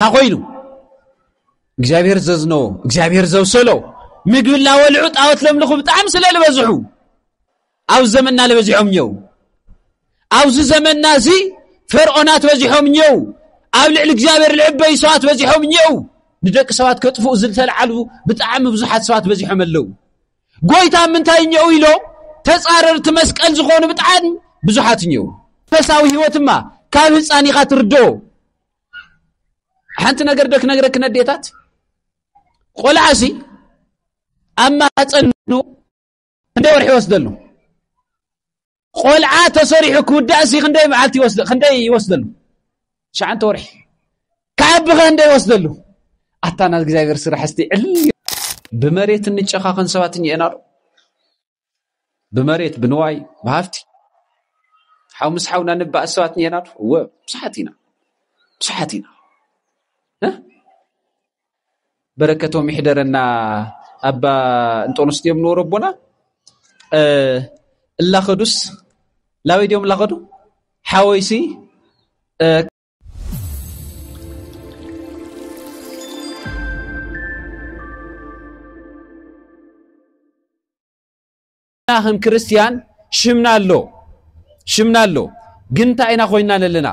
ኮይኑ እግዚኣብሔር ዘዝነዎ እግዚኣብሔር ዘብሰሎ ምግቢ እናበልዑ ጣዖት ለምልኹ ብጣዕሚ ስለ ዝበዝሑ ኣብ ዘመንና ዝበዚሖም እኘው ኣብዚ ዘመንና እዚ ፈርዖናት በዚሖም እኘው ኣብ ልዕሊ እግዚኣብሔር ልዕበዩ ሰባት በዚሖም እኘው ንደቂ ሰባት ከጥፍኡ ዝተልዓሉ ብጣዕሚ ብዙሓት ሰባት በዚሖም ኣለው ጎይታ ምንታይ እኘው ኢሎ ተፃረርቲ መስቀል ዝኾኑ ብጣዕሚ ብዙሓት እኘው ፈሳዊ ህይወት እማ ካብ ህፃን ኢኻ ትርድኦ ሓንቲ ነገር ዶ ክነግረኪ ነዴታት ቆልዓ ሲ ኣብ ማህፀኑ ክንደይ ወርሒ ይወስደሉ ቆልዓ ተሰሪሑ ክውዳእ ሲ ክንደይ መዓልቲ ክንደይ ይወስደሉ ሸዓንተ ወርሒ ክዓቢ ኸ እንደ ይወስደሉ ኣታ ናይ እግዚኣብሔር ስራሕ እስቲ ዕል ብመሬት እንጨኻኸን ሰባት እኛ ኢና ብመሬት ብንዋይ ብሃፍቲ ሓው ምስ ሓውና ንባእ ሰባት ኔና ዶ እወ ብዙሓት ኢና ብዙሓት ኢና በረከቶም ይሕደረና ኣባ እንጦንስ ድዮም ንበሩ ኣቦና እላኸዱስ ላበይ ድዮም እላኸዱ ሓወይሲ ከም ክርስትያን ሽምና ኣሎ ሽምና ኣሎ ግን እንታይ ኢና ኮይና ኣለና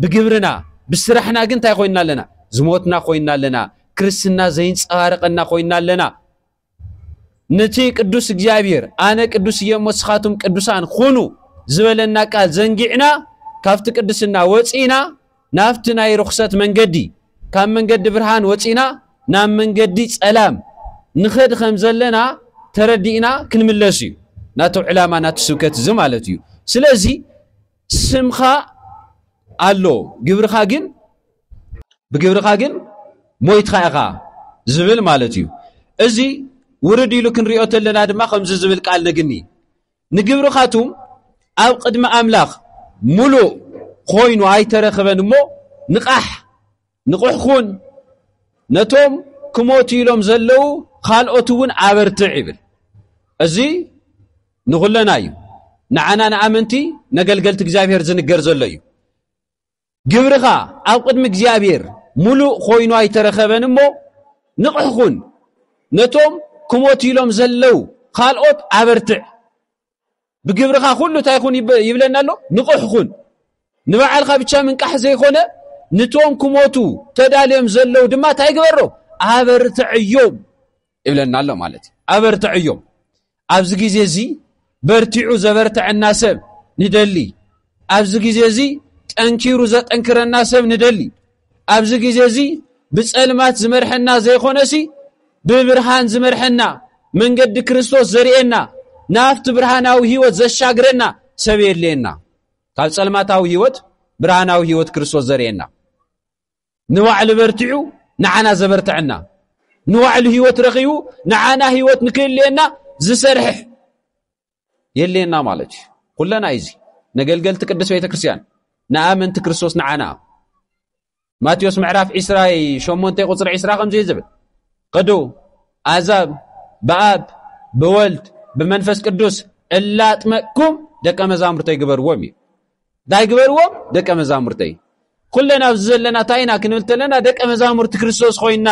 ብግብርና ብስራሕና ግን እንታይ ኮይና ኣለና ዝሞትና ኮይና ኣለና ክርስትና ዘይንፀባርቀና ኮይና ኣለና ነቲ ቅዱስ እግዚኣብሔር ኣነ ቅዱስ እየ እሞ ንስኻትኩም ቅዱሳን ኹኑ ዝበለና ቃል ዘንጊዕና ካብቲ ቅድስና ወፂእና ናብቲ ናይ ርኹሰት መንገዲ ካብ መንገዲ ብርሃን ወፂእና ናብ መንገዲ ፀላም ንኸድ ከም ዘለና ተረዲእና ክንምለስ እዩ ናቱ ዕላማ ናቱ ስብከት እዚ ማለት እዩ ስለዚ ስምኻ ኣሎ ግብርኻ ግን ብግብርኻ ግን ሞይትኻ ኢኻ ዝብል ማለት እዩ እዚ ውርድ ኢሉ ክንሪኦ ተለና ድማ ከምዚ ዝብል ቃል ነግኒ ንግብርኻቱም ኣብ ቅድሚ ኣምላኽ ሙሉእ ኮይኑ ኣይተረኽበን እሞ ንቓሕ ንቑሕ ኩን ነቶም ክሞቱ ኢሎም ዘለዉ ካልኦት እውን ኣበርትዕ ይብል እዚ ንኹለና እዩ ንዓና ንኣመንቲ ነገልገልቲ እግዚኣብሔር ዝንገር ዘሎ እዩ ግብርኻ ኣብ ቅድሚ እግዚኣብሔር ምሉእ ኮይኑ ኣይተረኸበን እሞ ንቕሕ ኹን ነቶም ክሞት ኢሎም ዘለው ካልኦት ኣበርትዕ ብግብርኻ ኩሉ እንታይ ኹን ይብለና ኣሎ ንቕሕ ኹን ንበዓልካ ብቻ ምንቃሕ ዘይኮነ ንቶም ክሞቱ ተዳልዮም ዘለው ድማ እንታይ ግበሮ ኣበርትዕዮም ይብለና ኣሎ ማለት እዩ ኣበርትዐዮም ኣብዚ ግዜ እዚ በርቲዑ ዘበርትዐና ሰብ ንደሊ ኣብዚ ግዜ እዚ ጠንኪሩ ዘጠንክረና ሰብ ንደሊ ኣብዚ ግዜ እዚ ብጸልማት ዝመርሐና ዘይኮነሲ ብብርሃን ዝመርሐና መንገዲ ክርስቶስ ዘርእየና ናብቲ ብርሃናዊ ህይወት ዘሻግረና ሰብ የድልየና ካብ ጸልማታዊ ህይወት ብርሃናዊ ህይወት ክርስቶስ ዘርእየና ንባዕሉ በርቲዑ ንዓና ዘበርትዐና ንባዕሉ ህይወት ረኺቡ ንዓና ህይወት ንክህልየና ዝሰርሕ የልየና ማለት እዩ ኩለና እዩ እዚ ነገልገልቲ ቅዱስ ቤተ ክርስትያን ንኣመንቲ ክርስቶስ ንዓና ማቴዎስ ምዕራፍ 28 ቁፅሪ 20 ከምዚ ዝብል ቅዱ ኣዛብ ብኣብ ብወልድ ብመንፈስ ቅዱስ እላጥመቅኩም ደቀ መዛሙርተይ ግበርዎም እዩ ታይ ግበርዎ ደቀ መዛሙርተይ ኩለን ኣብዚ ዘለና እንታይ ኢና ክንብል ተለና ደቀ መዛሙርቲ ክርስቶስ ኮይና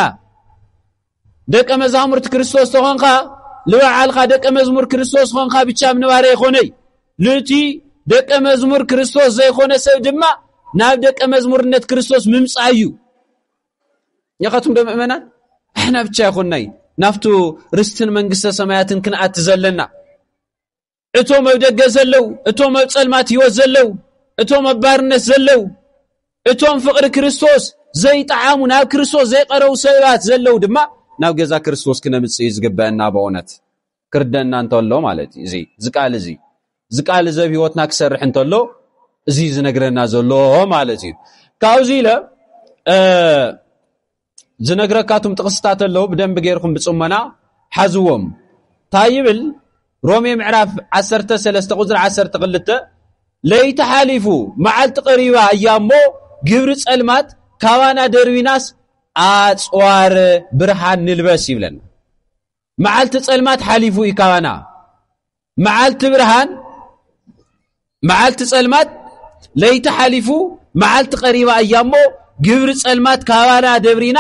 ደቀ መዛሙርቲ ክርስቶስ ተኾንካ ንበዓልካ ደቀ መዝሙር ክርስቶስ ኾንካ ብቻ ምንባረ ይኾነይ ልእቲ ደቀ መዝሙር ክርስቶስ ዘይኮነ ሰብ ድማ ናብ ደቀ መዝሙርነት ክርስቶስ ምምፃእ እዩ የኸትም ዶ ምእመናን ኣሕና ብቻ ይኾናይ ናብቱ ርስትን መንግስተ ሰማያትን ክንኣቲ ዘለና እቶም ኣብ ደገ ዘለዉ እቶም ኣብ ጸልማት ህይወት ዘለዉ እቶም ኣብ ባርነት ዘለዉ እቶም ፍቕሪ ክርስቶስ ዘይጠዓሙ ናብ ክርስቶስ ዘይቀረቡ ሰባት ዘለዉ ድማ ናብ ገዛ ክርስቶስ ክነምጽእ እዩ ዝግበአና ብእውነት ክርደና እንተሎ ማለት እዩ እዚ እዚ ቃል እዚ እዚ ቃል እዚ ኣብ ህይወትና ክሰርሕ እንተሎ እዚ ዝነግረና ዘሎ ማለት እዩ ካብዚ ኢለ ዝነግረካ እቱም ጥቕስታት ኣለዉ ብደንቢ ገይርኩም ብፅሞና ሓዝዎም እንታይ ይብል ሮሜ ምዕራፍ 13 ቁፅሪ 12 ለይቲ ሓሊፉ መዓልቲ ቀሪባ እያ እሞ ግብሪ ፀልማት ካባና ደርቢናስ ኣፅዋር ብርሃን ንልበስ ይብለና መዓልቲ ፀልማት ሓሊፉ እዩ ካባና መዓልቲ ብርሃን መዓልቲ ጸልማት ለይቲ ሓሊፉ መዓልቲ ቀሪባ እያ እሞ ግብሪ ጸልማት ካባና ደብሪና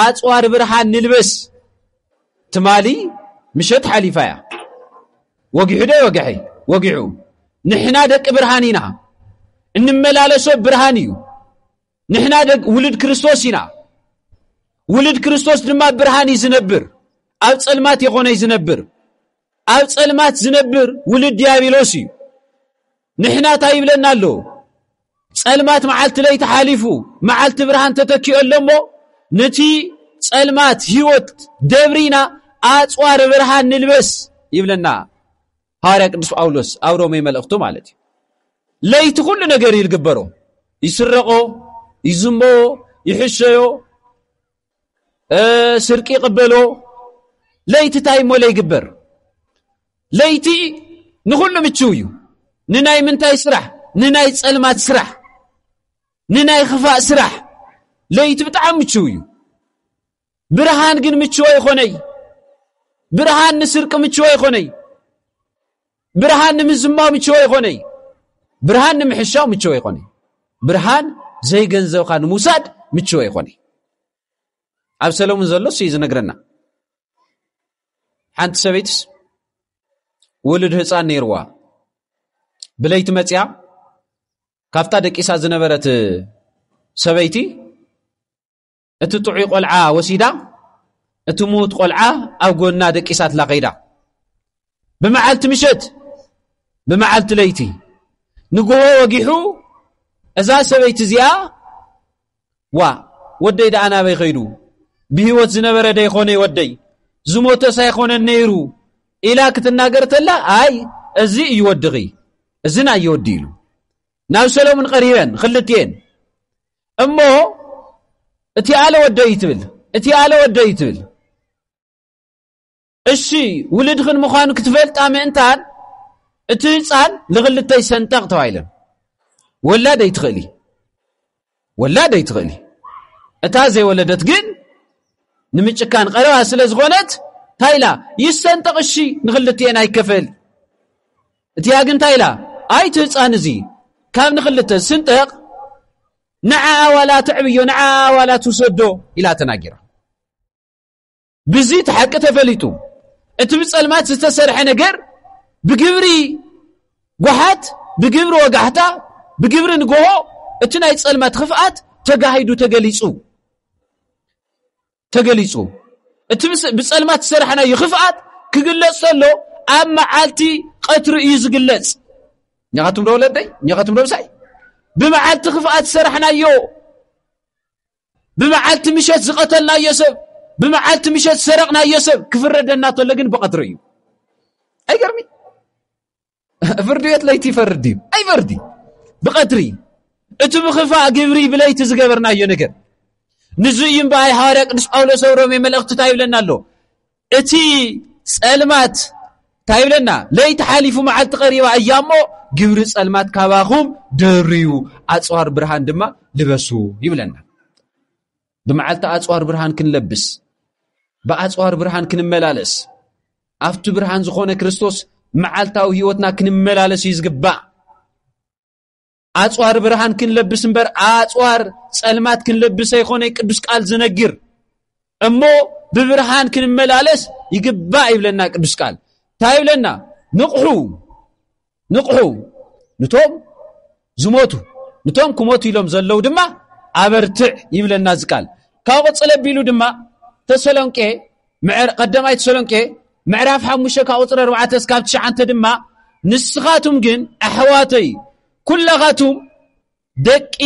ኣጽዋር ብርሃን ንልበስ ትማሊ ምሸት ሓሊፋ እያ ወጊሑ ዶ ወግሐ ወጊዑ ንሕና ደቂ ብርሃን ኢና እንመላለሶ ብርሃን እዩ ንሕና ውልድ ክርስቶስ ኢና ውልድ ክርስቶስ ድማ ብርሃን እዩ ዝነብር ኣብ ጸልማት የኾነይ ዝነብር ኣብ ጸልማት ዝነብር ውሉድ ዲያብሎስ እዩ ንሕና እንታይ ይብለና ኣሎ ጸልማት መዓልቲ ለይቲ ሓሊፉ መዓልቲ ብርሃን ተተኪኦ ኣሎ እሞ ነቲ ጸልማት ህይወት ደብሪና ኣጽዋር ብርሃን ንልበስ ይብለና ሃዋርያ ቅዱስ ጳውሎስ ኣብ ሮሜ መልእኽቱ ማለት እዩ ለይቲ ኩሉ ነገር ይልግበሮ ይስረቆ ይዝምቦ ይሕሸዮ ስርቂ ይቕበሎ ለይቲ እንታይ እሞ ለይግበር ለይቲ ንኹሉ ምችው እዩ ንናይ ምንታይ ስራሕ ንናይ ጸልማት ስራሕ ንናይ ኽፋእ ስራሕ ለይቲ ብጣዕሚ ምችው እዩ ብርሃን ግን ምችወ ይኾነይ ብርሃን ንስርቂ ምችወ ይኾነይ ብርሃን ንምዝማው ምችወ ይኮነ እዩ ብርሃን ንምሕሻው ምችወ ይኮነ እዩ ብርሃን ዘይገንዘብካ ንምውሳድ ምችወ ይኮነ እዩ ኣብ ሰለሙን ዘሎ ስ እዩ ዝነግረና ሓንቲ ሰበይትስ ውሉድ ህፃን ነይርዋ ብለይቲ መፅያ ካብታ ደቂሳ ዝነበረት ሰበይቲ እቲ ጥዑይ ቆልዓ ወሲዳ እቲ ምዉት ቆልዓ ኣብ ጎና ደቂሳትላ ከይዳ ብመዓልቲ ምሸት ብመዓልቲ ለይቲ ንግሆ ወጊሑ እዛ ሰበይቲ እዚኣ ዋ ወደይ ደኣ ናበይ ከይዱ ብህይወት ዝነበረ ደይኮነ ወደይ ዝሞተስ ኣይኮነን ነይሩ ኢላ ክትናገር ተላ ኣይ እዚ እዩ ወድኺ እዚ ናዮ ወዲ ኢሉ ናብ ሰሎሙን ቐሪበን ክልትኤን እሞ እቲ ኣለ ወደይ ትብል እቲ ኣለ ወደይ ትብል እሺ ውልድኽን ምዃኑ ክትፈልጣ ምእንታን እቲ ህፃን ንኽልተይ ሰንጠቕ ተባሂለን ወላድ ኣይትኽእሊ ወላድ ኣይትኽእሊ እታ ዘይወለደት ግን ንምጭካን ቀረባ ስለ ዝኾነት እንታይ ኢላ ይሰንጠቕ እሺ ንኽልትኤን ኣይከፈል እቲኣ ግን እንታይ ኢላ ኣይ እቲ ህፃን እዚ ካብ ንክልተ ዝስንጠቕ ንዓኣ ዋላ ትዕብዮ ንዓኣ ዋላ ትውሰዶ ኢላ ተናጊራ ብዚ እቲ ሓቂ ተፈሊጡ እቲ ብፀልማት ዝተሰርሐ ነገር ብግብሪ ጓሓት ብግብሪ ወጋሕታ ብግብሪ ንግሆ እቲ ናይ ፀልማት ክፍኣት ተጋሂዱ ተገሊፁ ተገሊጹ። እቲ ብጸልማት ዝሰራሕናዮ ክፍኣት ክግለጽ ተሎ ኣብ መዓልቲ ቀትሪ እዩ ዝግለጽ። እኛኻትኩም ዶ ወለደይ እኛኻትኩም ዶ ምሳይ ብመዓልቲ ክፍኣት ዝሰራሕናዮ ብመዓልቲ ምሸት ዝቐተልናዮ ሰብ ብመዓልቲ ምሸት ዝሰረቕናዮ ሰብ ክፍረደና ተሎ ግን ብቐትሪ እዩ። ኣይገርሚ ፍርዲ ቤት ለይቲ ይፈርድ ድዩ? ኣይፈርድ እዩ። ብቐትሪ እቲ ብኽፋእ ግብሪ ብለይቲ ዝገበርናዮ ነገር ንዙ እዩ እምበኣይ ሃዋርያ ቅዱስ ጳውሎስ ኣብ ሮሜ መልእኽቲ እንታይ ይብለና ኣሎ? እቲ ጸልማት እንታይ ይብለና? ለይቲ ሓሊፉ መዓልቲ ቀሪባ እያ እሞ ግብሪ ጸልማት ካባኹም ደርዩ ኣጽዋር ብርሃን ድማ ልበሱ ይብለና። ብመዓልቲ ኣፅዋር ብርሃን ክንለብስ ብኣፅዋር ብርሃን ክንመላለስ ኣብቲ ብርሃን ዝኾነ ክርስቶስ መዓልታዊ ህይወትና ክንመላለስ እዩ ዝግባእ ኣፅዋር ብርሃን ክንለብስ እምበር ኣፅዋር ፀልማት ክንለብስ ኣይኮነ ቅዱስ ቃል ዝነግር እሞ ብብርሃን ክንመላለስ ይግባእ ይብለና ቅዱስ ቃል እንታይ ይብለና ንቕሑ ንቕሑ ንቶም ዝሞቱ ንቶም ክሞቱ ኢሎም ዘለዉ ድማ ኣበርትዕ ይብለና እዚ ቃል ካብ ቅፅል ኣቢሉ ድማ ተሰሎንቄ ቀዳማይ ተሰሎንቄ ምዕራፍ ሓሙሽተ ካብ ቁፅሪ ኣርባዕተ እስካብ ትሽዓንተ ድማ ንስኻቱም ግን ኣሕዋተይ ኩላኻቱም ደቂ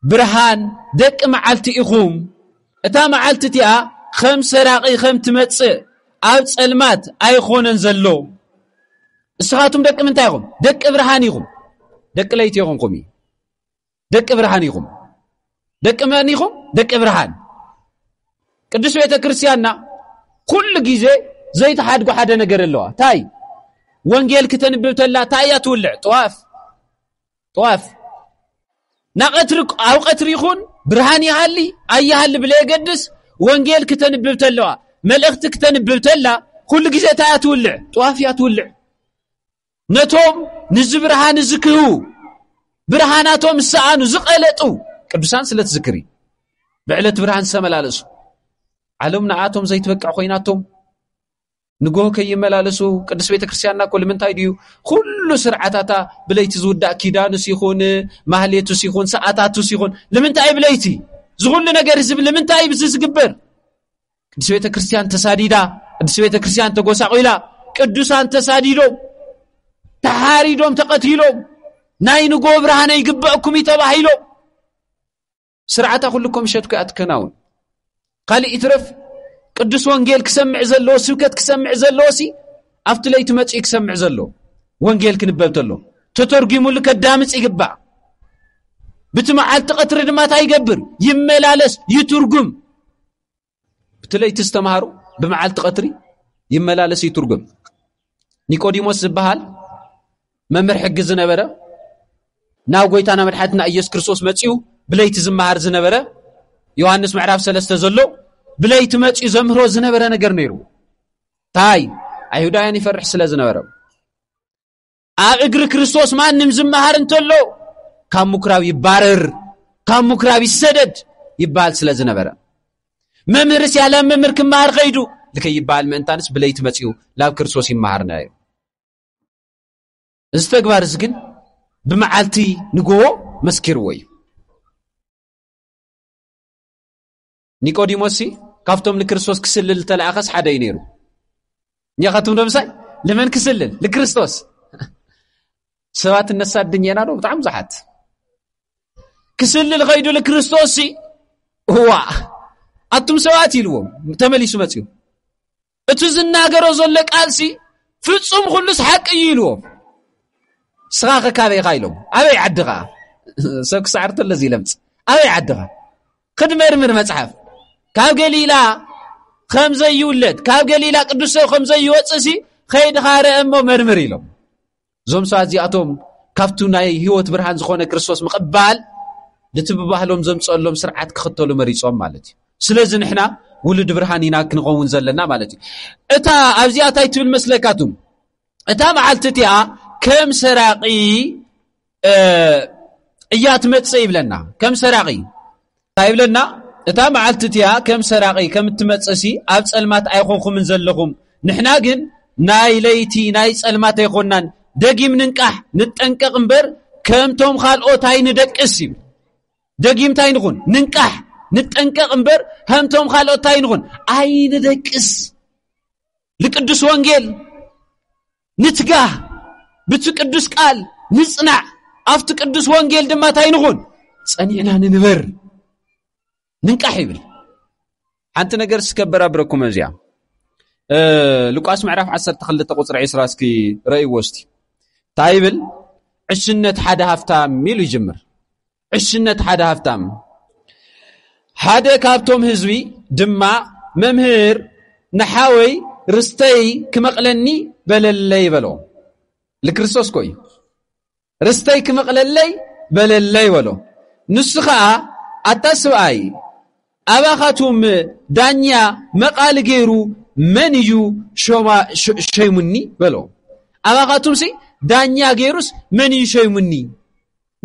ብርሃን ደቂ መዓልቲ ኢኹም። እታ መዓልቲ እቲኣ ኸም ሰራቒ ኸም ትመጽእ ኣብ ጸልማት ኣይኾነን ዘሎ። ንስኻቱም ደቂ ምንታይ ኢኹም? ደቂ ብርሃን ኢኹም። ደቂ ለይቲ ይኹንኩም እዩ። ደቂ ብርሃን ኢኹም። ደቂ መን ኢኹም? ደቂ ብርሃን። ቅዱስ ቤተ ክርስቲያንና ኩሉ ግዜ ዘይተሓድጎ ሓደ ነገር ኣለዋ። እንታይ? ወንጌል ክተንብብ ተላ እንታይ እያ ትውልዕ? ጥዋፍ ጠዋፍ ናቐትሪ ኣብ ቐትሪ ይኹን ብርሃን ይሃሊ ኣይሃሊ ብለየገድስ ወንጌል ክተንብብ ተለዋ መልእኽቲ ክተንብብ ተላ ኩሉ ግዜ እንታይ እያ ትውልዕ ጠዋፍ እያ ትውልዕ ነቶም ንዚ ብርሃን እዚ ክህቡ ብርሃናቶም ዝሰኣኑ ዝቐለጡ ቅዱሳን ስለ ትዝክሪ ብዕለት ብርሃን ዝተመላለሱ ዓለም ንኣቶም ዘይትበቅዕ ኮይናቶም ንግሆ ከይመላለሱ ቅዱስ ቤተ ክርስትያንና እኮ ልምንታይ ድዩ ኩሉ ስርዓታታ ብለይቲ ዝውዳእ ኪዳኑስ ይኹን ማህሌቱስ ይኹን ሰዓታቱስ ይኹን ልምንታይ ብለይቲ ዝኹሉ ነገር እዚ ልምንታይ ብዚ ዝግበር ቅዱስ ቤተ ክርስትያን ተሳዲዳ ቅዱስ ቤተ ክርስትያን ተጎሳቂላ ቅዱሳን ተሳዲዶም ተሓሪዶም ተቐቲሎም ናይ ንግሆ ብርሃነ ይግበአኩም እዩ ተባሂሎም ስርዓታ ኩሉ ኮምሸት ኮያ ትከናውን ካልእ ይትረፍ ቅዱስ ወንጌል ክሰምዕ ዘለዎ ስብከት ክሰምዕ ዘለዎ ሲ ኣብቲ ለይቲ መፅኡ ክሰምዕ ዘሎ ወንጌል ክንበብ ተሎ ተተርጒሙሉ ከዳምፅ ይግባእ ብቲ መዓልቲ ቐትሪ ድማ እንታይ ይገብር ይመላለስ ይትርጉም እቲ ለይቲ ዝተምሃሩ ብመዓልቲ ቀትሪ ይመላለስ ይትርጉም ኒቆዲሞስ ዝበሃል መምህር ሕጊ ዝነበረ ናብ ጎይታና መድሓትና ኢየሱስ ክርስቶስ መፅኡ ብለይቲ ዝመሃር ዝነበረ ዮሃንስ ምዕራፍ ሰለስተ ዘሎ ብለይቲ መፅኡ ዘምህሮ ዝነበረ ነገር ነይሩ እንታይ ኣይሁዳውያን ይፈርሕ ስለ ዝነበረ ኣብ እግሪ ክርስቶስ ማንም ዝመሃር እንተሎ ካብ ምኩራብ ይባረር ካብ ምኩራብ ይሰደድ ይበሃል ስለ ዝነበረ መምህርስ ያለ መምህር ክመሃር ከይዱ ልከይበሃል ምእንታንስ ብለይቲ መፅኡ ናብ ክርስቶስ ይመሃርና እዩ እዚ ተግባር እዚ ግን ብመዓልቲ ንጎቦ መስኪርዎ እዩ ኒቆዲሞስሲ ካብቶም ንክርስቶስ ክስልል ዝተለኣኸስ ሓደ እዩ ነይሩ እኛኻትም ዶምሳይ ንመን ክስልል ንክርስቶስ ሰባት እነሳድን የና ዶ ብጣዕሚ ብዙሓት ክስልል ኸይዱ ንክርስቶስሲ እዋ ኣቱም ሰባት ኢልዎም ተመሊሱ መፅኡ እቱ ዝናገሮ ዘሎ ቃልሲ ፍፁም ኩሉስ ሓቂ እዩ ኢልዎ ስኻ ከካበይኻ ኢሎም ኣበይ ዓድኻ ሰብ ክሳዕርተሎ ዙ ለምፅ ኣበይ ዓድኻ ክድመርምር መፅሓፍ ካብ ገሊላ ከም ዘይውለድ ካብ ገሊላ ቅዱስ ሰብ ከም ዘይወፅእሲ ኸይድኻ ርአ እሞ መርምር ኢሎም እዞም ሰባት እዚኣቶም ካብቱ ናይ ህይወት ብርሃን ዝኾነ ክርስቶስ ምቕባል ነቲ ብባህሎም ዘምፀሎም ስርዓት ክኽተሉ መሪፆም ማለት እዩ ስለዚ ንሕና ውሉድ ብርሃን ኢና ክንኸውን ዘለና ማለት እዩ እታ ኣብዚኣ እንታይ ትብል መስለካቱ እታ መዓልቲ እቲኣ ከም ሰራቂ እያ ትመፅእ ይብለና ከም ሰራቂ እንታይ ይብለና እታ መዓልቲ እቲኣ ከም ሰራቒ ከም እትመጽእሲ ኣብ ጸልማት ኣይኾንኩምን ዘለኹም ንሕና ግን ናይ ለይቲ ናይ ጸልማት ኣይኮናን ደጊም ንንቃሕ ንጠንቀቕ እምበር ከምቶም ካልኦት ኣይንደቅስ ይብል ደጊም እንታይ ንኹን ንንቃሕ ንጠንቀቕ እምበር ከምቶም ካልኦት እንታይ ንኹን ኣይንደቅስ ንቅዱስ ወንጌል ንትጋህ ብቲ ቅዱስ ቃል ንጽናዕ ኣብቲ ቅዱስ ወንጌል ድማ እንታይ ንኹን ጸኒዕና ንንበር ንንቃሕ ይብል ሓንቲ ነገር ስከበር ኣብረኩም እዚኣ ሉቃስ ምዕራፍ 12 ቁፅሪ 20 እስኪ ረእይዎ እስቲ እንታይ ይብል ዕሽነት ሓደ ሃፍታም ኢሉ ይጅምር ዕሽነት ሓደ ሃፍታም ሓደ ካብቶም ህዝቢ ድማ መምህር ንሓወይ ርስተይ ክመቕለኒ በለለይ በሎ ልክርስቶስ ኮ እዩ ርስተይ ክመቕለለይ በለለይ በሎ ንሱ ኸዓ ኣታ ስብኣይ ኣባኻቱም ዳኛ መቓሊ ገይሩ መን እዩ ሸይሙኒ በሎ ኣባኻቱምሲ ዳኛ ገይሩስ መን እዩ ሸይሙኒ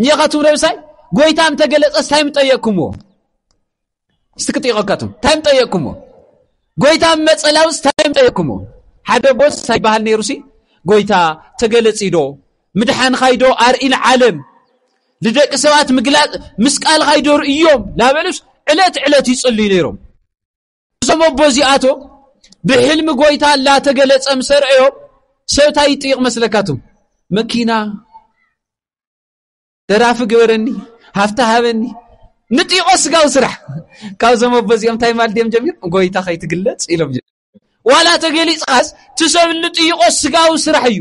ኒኻቱም ረብሳይ ጎይታ እንተ ገለጸስ እንታይ ምጠየቅኩምዎ እስቲ ክጥይቐካቱም እንታይ ምጠየቅኩምዎ ጎይታ መጸላውስ እንታይ ምጠየቅኩምዎ ሓደ ቦስ እንታይ ይበሃል ነይሩ ሲ ጎይታ ተገለጺዶ ምድሓንኻይዶ ኣርኢ ንዓለም ንደቂ ሰባት ምግላጽ ምስ ቃልኻይዶ ርእዮም ናበሉስ ዕለት ዕለት ይጽልዩ ነይሮም እዞም ኣቦ እዚኣቶም ብሕልሚ ጎይታ ላተገለጸ ምስ ኣርአዮ ሰብ እንታይ ይጥይቕ መስለካትም መኪና ደራፊ ግበረኒ ሃፍቲ ሃበኒ ንጥይቖ ስጋዊ ስራሕ ካብዞም ኣቦ እዚኦም እንታይ ማል ድዮም ጀሚር ጎይታ ከይትግለጽ ኢሎም ዋላ ተገሊጽኻስ ትሰብ ንጥይቖ ስጋዊ ስራሕ እዩ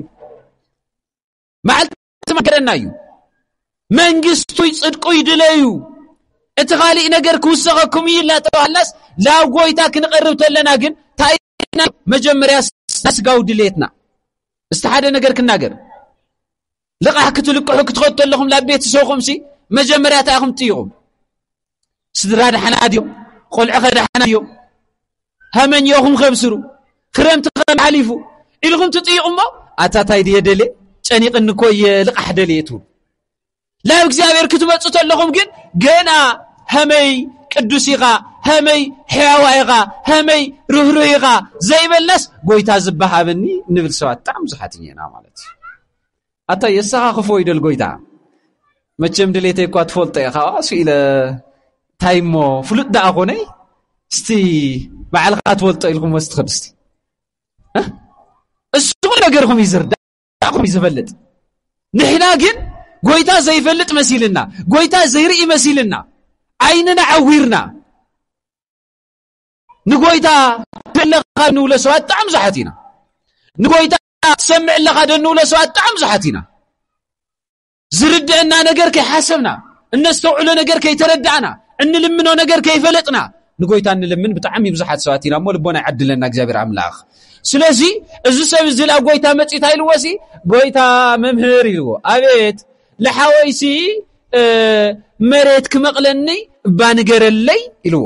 መዓልቲ ትመክረና እዩ መንግስቱይ ጽድቁ ይድለዩ እቲ ኻሊእ ነገር ክውሰኸኩም እዩ ኢልና ተባህልናስ ናብ ጎይታ ክንቐርብ ተለና ግን ታይና መጀመርያ ስጋዊ ድሌትና እስቲ ሓደ ነገር ክናገር ልቓሕ ክትልቅሑ ክትኸዱ ኣለኹም ናብ ቤተሰብኹም ሲ መጀመርያ እንታይ ኢኹም ትይኹም ስድራ ዳሕና ድዮም ቆልዑ ከ ዳሕና ድዮም ሃመኛኹም ከብስሩ ክረምቲ ከም ሓሊፉ ኢልኹም ትጥይቑ እሞ ኣታታይ ድየ ደልየ ጨኒቕኒ እኮ እየ ልቓሕ ደልየ ትብሉ ናብ እግዚኣብሔር ክትመፁ ተለኹም ግን ገና ሃመይ ቅዱስ ኢኻ ሃመይ ሕያዋ ኢኻ ሃመይ ርህሩህ ኢኻ ዘይበልናስ ጎይታ ዝበሃበኒ ንብል ሰባት ብጣዕሚ ብዙሓት ኢና ማለት እዩ ኣታ የሰኻኽፎ እዩ ደልጎይታ መቸም ድሌተይ እኳ ትፈልጦ ኢኻ እሱ ኢለ እንታይ እሞ ፍሉጥ ደኣ ኮነይ እስቲ ባዕልኻ ትፈልጦ ኢልኩም ወስ ትኸድ እስቲ እሱ ነገርኹም እዩ ዝርዳእኹም እዩ ዝፈልጥ ንሕና ግን ጎይታ ዘይፈልጥ መሲልና ጎይታ ዘይርኢ መሲልና ዓይንና ዓዊርና ንጎይታ ኣለኻ እንብሎ ሰባት ብጣዕሚ ብዙሓት ኢና ንጎይታ ትሰምዕ ኣለኻ ዶ እንብሎ ሰባት ብጣዕሚ ብዙሓት ኢና ዝርድአና ነገር ከይሓሰብና እነስተውዕሎ ነገር ከይተረዳእና እንልምኖ ነገር ከይፈለጥና ንጎይታ እንልምን ብጣዕሚ ብዙሓት ሰባት ኢና እሞ ልቦና ይዓድለና እግዚኣብሔር ኣምላኽ ስለዚ እዚ ሰብ እዚ ላ ጎይታ መፂታ ኢልዎ ሲ ጎይታ መምህር ኢልዎ ኣቤት ልሓወይሲ መሬት ክመቕለኒ እባ ንገረለይ ኢልዎ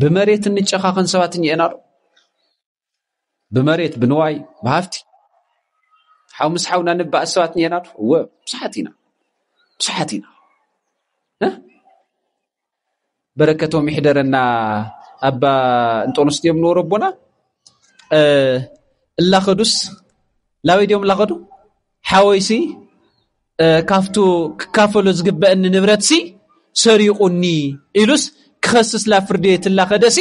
ብመሬት እንጨኻኸን ሰባት እኒኤና ዶ ብመሬት ብንዋይ ብሃፍቲ ሓው ምስ ሓውና ንባእስ ሰባት እኒኤና ዶ እወ ብዙሓት ኢና ብዙሓት ኢና በረከቶም ይሕደረና ኣባ እንጦንስ ድዮም ንበሩ ኣቦና እላኸዱስ ላበይ ድዮም እላኸዱ ሓወይሲ ካብቱ ክካፈሎ ዝግበአኒ ንብረትሲ ሰሪቑኒ ኢሉስ ክኸስስ ናብ ፍርዲ ቤት እናኸደሲ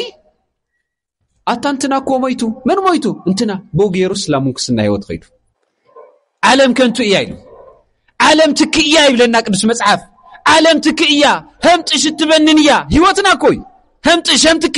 ኣታ እንትና እኮ ሞይቱ መን ሞይቱ እንትና ብኡ ገይሩስ ናብ ምንኩስና ህይወት ኸይዱ ዓለም ከንቱ እያ ኢሉ ዓለም ትክ እያ ይብለና ቅዱስ መፅሓፍ ዓለም ትክ እያ ህምጥሽ እትበንን እያ ህይወትና እኮ እዩ ህምጥሽ ህምትኪ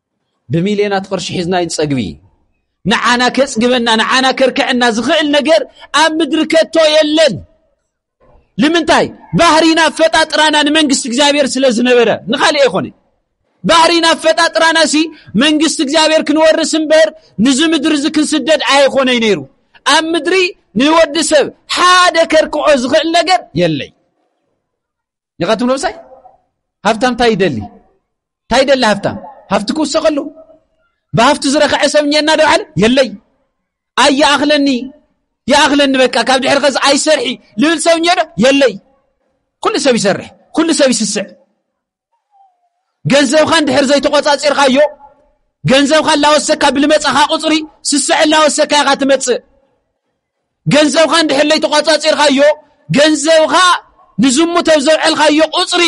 ብሚልዮናት ቅርሺ ሒዝና ይንጸግቢ ንዓና ከጽግበና ንዓና ከርክዐና ዝኽእል ነገር ኣብ ምድሪ ከቶ የለን ንምንታይ ባህሪና ኣፈጣጥራና ንመንግስቲ እግዚኣብሔር ስለ ዝነበረ ንኻልእ ኣይኮነ ባህሪና ኣፈጣጥራና ሲ መንግስቲ እግዚኣብሔር ክንወርስ እምበር ንዚ ምድሪ እዚ ክንስደድ ኣይኮነይ ነይሩ ኣብ ምድሪ ንወዲ ሰብ ሓደ ከርክዖ ዝኽእል ነገር የለይ ኒኻ ትብሎ ምሳይ ሃብታም እንታይ ይደሊ እንታይ ይደሊ ሃብታም ሃብቲ ክውሰኸሉ ብሃብቲ ዝረኸዐ ሰብ እኒኤና ዶ በዓለ የለይ ኣይ ይኣኽለኒ ይኣኽለኒ በቃ ካብ ድሕሪ ኸዚ ኣይሰርሒ ልብል ሰብ እኒኦ ዶ የለይ ኩሉ ሰብ ይሰርሕ ኩሉ ሰብ ይስስዕ ገንዘብኻ እንድሕር ዘይተቖፃፂርካዮ ገንዘብካ እናወሰካ ብልመፃኻ ቁፅሪ ስስዐ እናወሰካ ኢኻ ትመፅእ ገንዘብካ እንድሕር ለይተቋጻጺርካዮ ገንዘብካ ንዝሙት ኣብ ዘውዐልካዮ ቁጽሪ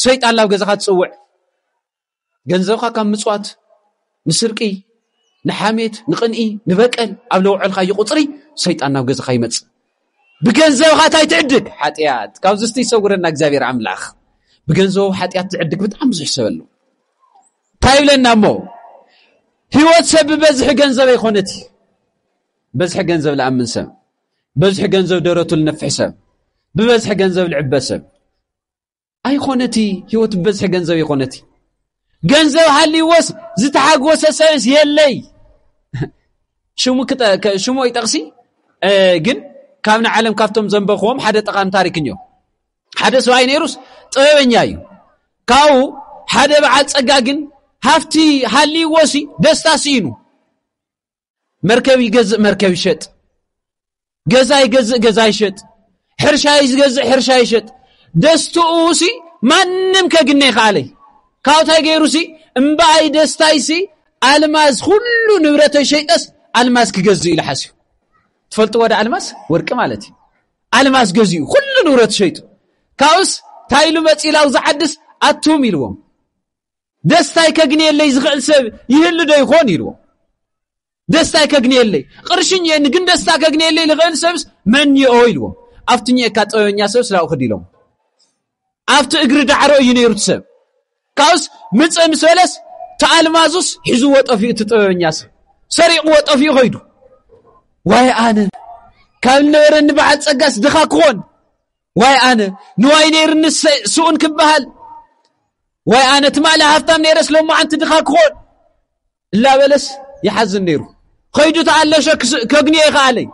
ሰይጣን ናብ ገዛኻ ትጽውዕ ገንዘብካ ካብ ምጽዋት ንስርቂ ንሓሜት ንቕንኢ ንበቀል ኣብ ለውዐልካዮ ቁጽሪ ሰይጣን ናብ ገዛኻ ይመጽእ ብገንዘብካ እንታይ ትዕድግ ሓጢኣት ካብዚ ስቲ ይሰውረና እግዚኣብሔር ኣምላኽ ብገንዘቡ ሓጢኣት ዝዕድግ ብጣዕሚ ብዙሕ ሰብ ኣሎ እንታይ ይብለና እሞ ህይወት ሰብ ብበዝሒ ገንዘብ ኣይኮነት እዩ በዝሒ ገንዘብ ልኣምን ሰብ በዝሒ ገንዘብ ደረቱ ልነፍሕ ሰብ ብበዝሒ ገንዘብ ልዕበ ሰብ ኣይኮነቲ ህይወት ብበዝሒ ገንዘብ ይኮነቲ ገንዘብ ሃልዎስ ዝተሓግወሰ ሰብስ የለይ ሽሙ ሽሙ ይጠቕሲ ግን ካብ ንዓለም ካብቶም ዘንበኽዎም ሓደ ጠቓሚ ታሪክን እዮም ሓደ ሰብኣይ ነይሩስ ጥበበኛ እዩ ካብኡ ሓደ በዓል ፀጋ ግን ሃፍቲ ሃልዎሲ ደስታ ስኢኑ መርከብ ይገዝእ መርከብ ይሸጥ ገዛ ይገዝእ ገዛ ይሸጥ ሕርሻ ይዝገዝእ ሕርሻ ይሸጥ ደስትኡ ሲ ማንም ከግነ ይኸኣለይ ካብኡታይ ገይሩ ሲ እምበኣይ ደስታይ ሲ ኣልማዝ ኩሉ ንብረተይ ሸይጠስ ኣልማዝ ክገዝእ ኢሉ ሓስዩ ትፈልጡ ወደ ኣልማዝ ወርቂ ማለት እዩ ኣልማዝ ገዚኡ ኩሉ ንብረት ሸይጡ ካብኡስ እንታይ ኢሉ መፂላው ዝዓድስ ኣቱም ኢልዎም ደስታይ ከግንየለይ ዝኽእል ሰብ ይህሉ ዶ ይኾን ኢልዎ ደስታይ ከግንየለይ ቕርሽን እየኒ ግን ደስታ ከግንየለይ ዝኽእል ሰብስ መን እዮ ኢልዎ ኣብቲ ኒኤካ ጠበበኛ ሰብስ ናብኡ ክድ ኢሎም ኣብቲ እግሪ ዳዕሮ እዩ ነይሩ እቲ ሰብ ካብኡስ ምፅ ምስ በለስ ተኣልማዙስ ሒዝዎ ጠፊኡ እቲ ጥበበኛ ሰብ ሰሪቕዎ ጠፊኡ ኸይዱ ዋይ ኣነ ካብ ዝነበረኒ በዓል ፀጋስ ድኻ ክኾን ዋይ ኣነ ንዋይ ነይርኒ ስኡን ክበሃል ዋይ ኣነ ትማሊ ሃፍታም ነይረስ ሎማዓንቲ ድኻ ክኾን እላበለስ ይሓዝን ነይሩ ኸይዱ ተኣለሸ ከግንዮ ይኸኣለይ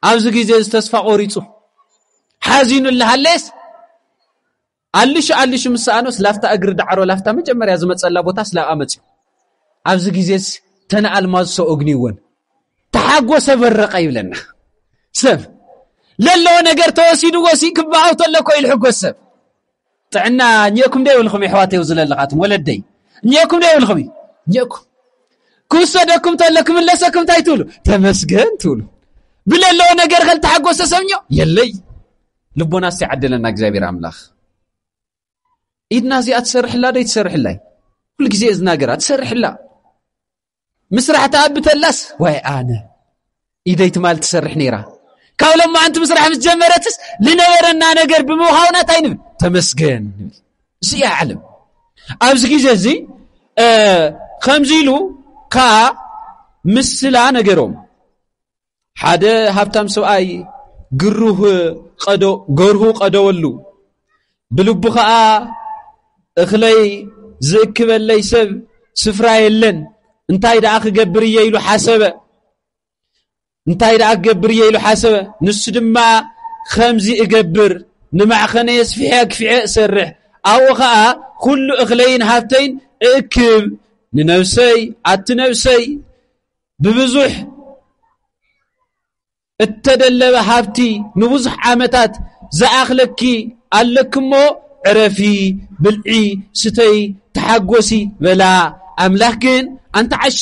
ኣብዚ ግዜ እዚ ተስፋ ቆሪፁ ሓዚኑ እላሃለየስ ኣልሹ ኣልሹ ምስ ሰኣኖስ ላፍታ እግሪ ዳዕሮ ላፍታ መጀመርያ ዝመጸላ ቦታ ስላብኣ መጽዩ ኣብዚ ግዜስ ተነ ኣልማዝ ሰው እግንይወን ተሓጎሰ በረቐ ይብለና ሰብ ለለዎ ነገር ተወሲድዎ ሲ ክበሃው ተሎ እኮ ይልሕጎስ ሰብ ጥዕና እኘኩም ዶ ይብልኩም የሕዋተይ ኣብዚ ዘለኻትም ወለደይ እኘኩም ዶ ይብልኩም እዩ እኘኩም ክውሰደኩም ተሎ ክምለሰኩም እንታይ ትብሉ ተመስገን ትብሉ ብለለዎ ነገር ከልተሓጎሰ ሰብኞ የለይ ልቦና እስቲ ዓደለና እግዚኣብሔር ኣምላኽ ኢድና እዚኣ ትሰርሕላ ዶ ይትሰርሕላይ ኩሉ ግዜ እዝናገራ ትሰርሕላ ምስራሕ ተኣብተላስ ዋይ ኣነ ኢደይ ትማል ትሰርሕ ነይራ ካብ ሎማዓንቲ ምስራሕ ምስ ጀመረትስ ዝነበረና ነገር ብምዃውና እንታይ ንብል ተመስገን ንብል እዚ እያ ዓለም ኣብዚ ግዜ እዚ ከምዚ ኢሉ ከዓ ምስላ ነገሮም ሓደ ሃብታም ሰብኣይ ግሩህ ቀዶ ገርሁ ቀደወሉ ብልቡ ኸኣ እኽለይ ዝእክበለይ ሰብ ስፍራ የለን እንታይ ደኣ ክገብር እየ ኢሉ ሓሰበ እንታይ ደኣ ክገብር እየ ኢሉ ሓሰበ ንሱ ድማ ከምዚ እገብር ንማዕኸነ የስፍሐ ክፍዐ እሰርሕ ኣብኡ ኸኣ ኩሉ እኽለይን ሃብተይን እእክብ ንነብሰይ ኣቲ ነብሰይ ብብዙሕ እተደለበ ሃብቲ ንብዙሕ ዓመታት ዝኣኽለኪ ኣለኪ እሞ ዕረፊ፣ ብልዒ፣ ስተዪ፣ ተሓጐሲ በላ። ኣምላኽ ግን ኣንቲ ዓሻ፣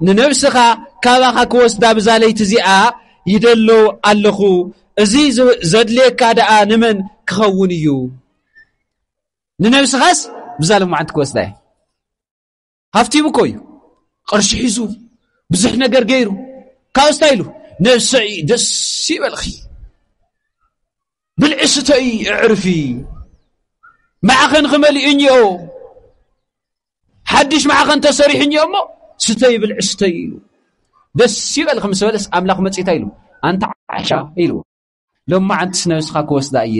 ንነብስኻ ካባኻ ክወስዳ ብዛ ለይቲ እዚኣ ይደሎ ኣለኹ፣ እዚ ዘድልየካ ደኣ ንመን ክኸውን እዩ? ንነብስኻስ ብዛ ሎማዓንቲ ክወስዳ እየ። ሃፍቲሙ እኮ እዩ ቕርሺ ሒዙ ብዙሕ ነገር ገይሩ ካብ ስታይ ኢሉ ነሰኢ ደስ ይበልኺ ብልዒ ስተኢ እዕርፊ ማዕኸንኺ መሊኡ እኒኦ ሓድሽ ማዕኸን ተሰሪሑ እኒኦ እሞ ስተይ ብልዒ ስተይ ኢሉ ደስ ይበልኺ ምስ በለስ ኣምላኽ መፅታ ኢሉ ኣንታ ዓሻ ኢልዎ ሎማ ዓንትስ ነብስኻ ክወስዳ እየ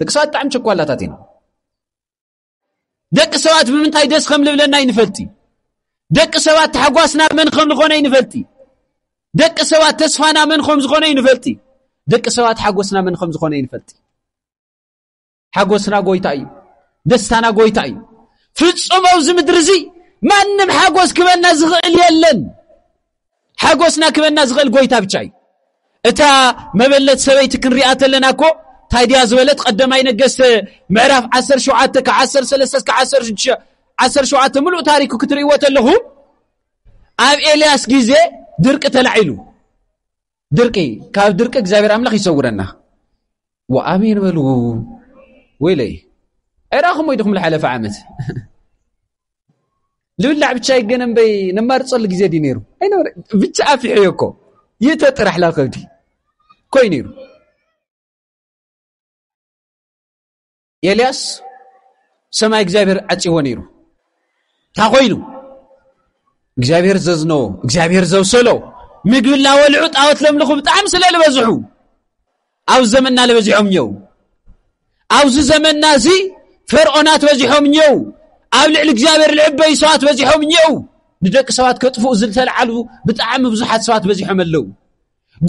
ደቂ ሰባት ብጣዕሚ ቸኳላታት ኢና ደቂ ሰባት ብምንታይ ደስ ከም ልብለና ይንፈልጢ ደቂ ሰባት ተሓጓስና መን ከም ዝኾነ ይንፈልጢ ደቂ ሰባት ተስፋና መን ከም ዝኾነ ይንፈልጢ ደቂ ሰባት ሓጎስና መን ከም ዝኾነ ይንፈልጢ ሓጎስና ጎይታ እዩ ደስታና ጎይታ እዩ ፍጹም ኣብዚ ምድሪ እዚ ማንም ሓጎስ ክበልና ዝኽእል የለን ሓጎስና ክበና ዝኽእል ጎይታ ብቻ እዩ እታ መበለት ሰበይቲ ክንሪኣ ተለና እኮ እንታይ ድያ ዝበለት ቀደማይ ነገስተ ምዕራፍ 17 ካብ 13 እስከ 17 ምሉእ ታሪኩ ክትርእይዎ ተለኹ ኣብ ኤልያስ ግዜ ድርቂ ተላዒሉ ድርቂ ካብ ድርቂ እግዚኣብሔር ኣምላኽ ይሰውረና ወኣሜን በሉ ወይለይ ኣይረኣኹም ወይ ድኹም ዝሓለፈ ዓመት ልብላዕ ብቻ ይገነ እምበይ ነማርፀሉ ግዜ ድዩ ነይሩ ኣይነበረ ብቻ ኣፊሐዮ እኮ ይእተ ጥራሕ ላከብዲ ኮይኑ ይሩ ኤልያስ ሰማይ እግዚኣብሔር ዓፂዎ ነይሩ እንታይ ኮይኑ እግዚኣብሔር ዘዝነዎ እግዚኣብሔር ዘብሰሎ ምግቢ እናበልዑ ጣዖት ለምልኹ ብጣዕሚ ስለ ዝበዝሑ ኣብ ዘመንና ዝበዚሖም እየው ኣብዚ ዘመንና እዚ ፈርዖናት በዚሖም እየው ኣብ ልዕሊ እግዚኣብሔር ልዕበይ ሰባት በዚሖም እየው ንደቂ ሰባት ከጥፍኡ ዝተልዓሉ ብጣዕሚ ብዙሓት ሰባት በዚሖም ኣለው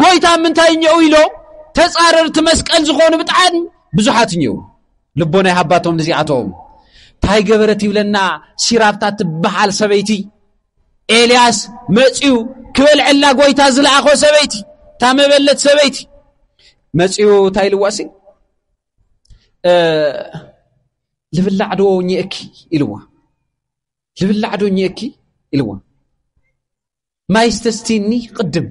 ጎይታ ምንታይ እኘኡ ኢሎም ተጻረርቲ መስቀል ዝኾኑ ብጣዕሚ ብዙሓት እኘኡ ልቦና ይሃባቶም ንዚኣቶም እንታይ ገበረት ይብለና ሲራብታ ትበሃል ሰበይቲ ኤልያስ መፅኡ ክበልዐላ ጎይታ ዝለኣኾ ሰበይቲ እታ መበለት ሰበይቲ መፅኡ እንታይ ኢልዋሲ ልብላዕ ዶ ኘእኪ ኢልዋ ልብላዕ ዶ ኘእኪ ኢልዋ ማይ ስተስቲኒ ቅድም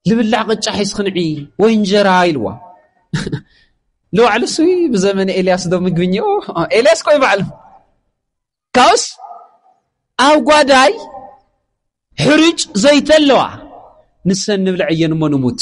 ልብላዕ ቅጫ ሒዝክንዒ ወይ እንጀራ ኢልዋ ንባዕሉ ስ ብዘመነ ኤልያስ ዶ ምግብኝ ኤልያስ ኮይ ባዕሉ ካብኡስ ኣብ ጓዳይ ሕርጭ ዘይተ ኣለዋ ንሰ ንብልዐየን እሞ ንሙት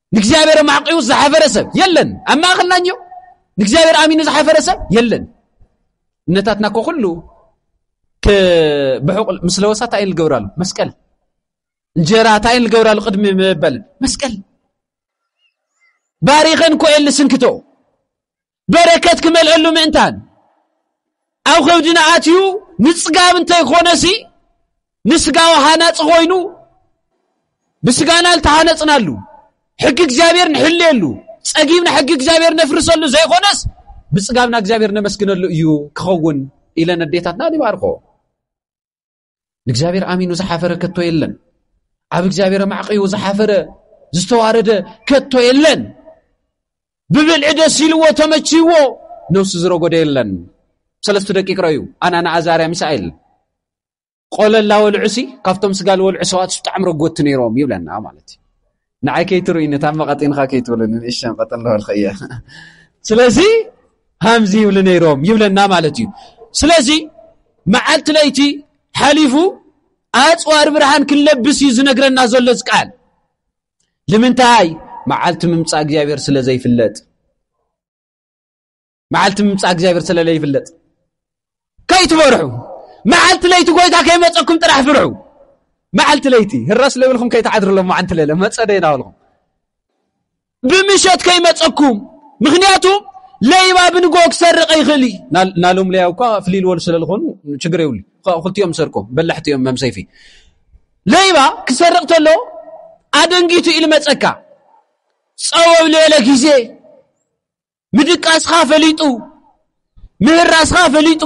ንእግዚኣብሔር ኣማዕቂኡ ዝሓፈረ ሰብ የለን ኣብ ማእኸልና እዮ ንእግዚኣብሔር ኣሚኑ ዝሓፈረ ሰብ የለን እምነታትና ኮ ኩሉ ብሑቕ ምስ ለወሳ እንታይ ንገብራሉ መስቀል እንጀራ እንታይ ንገብራሉ ቅድሚ መበል መስቀል ባሪኸን ኮኤል ስንክቶ በረከት ክመልአሉ ምእንታን ኣብ ከብድና ኣትዩ ምፅጋብ እንተይኮነሲ ንስጋዊ ሃናፂ ኮይኑ ብስጋና ዝተሃነፅናሉ ሕጊ እግዚኣብሔር ንሕልየሉ ጸጊብና ሕጊ እግዚኣብሔር ነፍርሰሉ ዘይኮነስ ብፅጋብና እግዚኣብሔር ነመስግነሉ እዩ ክኸውን ኢለን ኣዴታትና ይባርኮ ንእግዚኣብሔር ኣሚኑ ዝሓፈረ ከቶ የለን ኣብ እግዚኣብሔር ኣማዕቂኡ ዝሓፈረ ዝተዋረደ ከቶ የለን ብብልዒ ደስ ኢልዎ ተመችይዎ ነብሱ ዝረጎደ የለን ሰለስተ ደቂቅ ረዩ ኣናና ኣዛርያ ሚሳኤል ቆለላ ወልዑሲ ካብቶም ስጋ ልወልዑ ሰዋት ብጣዕሚ ረጎቲ ነይሮም ይብለና ማለት እዩ ንዓይ ከይትርእዩኒ እታ መቐጢንኻ ከይትብሉኒ ንእሽተን ቀጥ ኣለበልክ እየ ስለዚ ሃምዚ ይብሉ ነይሮም ይብለና ማለት እዩ ስለዚ መዓልቲ ለይቲ ሓሊፉ ኣፅዋር ብርሃን ክንለብስ እዩ ዝነግረና ዘሎ ዝቃል ልምንታይ መዓልቲ ምምፃእ እግዚኣብሔር ስለ ዘይፍለጥ መዓልቲ ምምፃእ እግዚኣብሔር ስለለ ይፍለጥ ከይትበርሑ መዓልቲ ለይቲ ጎይታ ከይመፀኩም ጥራሕ ፍርሑ መዓልቲ ለይቲ ህራስ ለብልኩም ከይትዓድርሎ መዓንቲ ለለ መፀ ደይና በልኩም ብምሸት ከይመፀኩም ምክንያቱ ለይባ ብንጎ ክሰርቀ ይኽእል እዩ ናሎም ለያ እኳ ፍልይ ልበሉ ስለ ዝኾኑ ችግር የብሉ ክልቲኦም ሰርቆም በላሕቲ እዮም መም ሰይፊ ለይባ ክሰርቅ ተሎ ኣደንጊቱ ኢሉ መፀካ ፀወብ ልበለ ግዜ ምድቃስኻ ፈሊጡ ምህራስኻ ፈሊጡ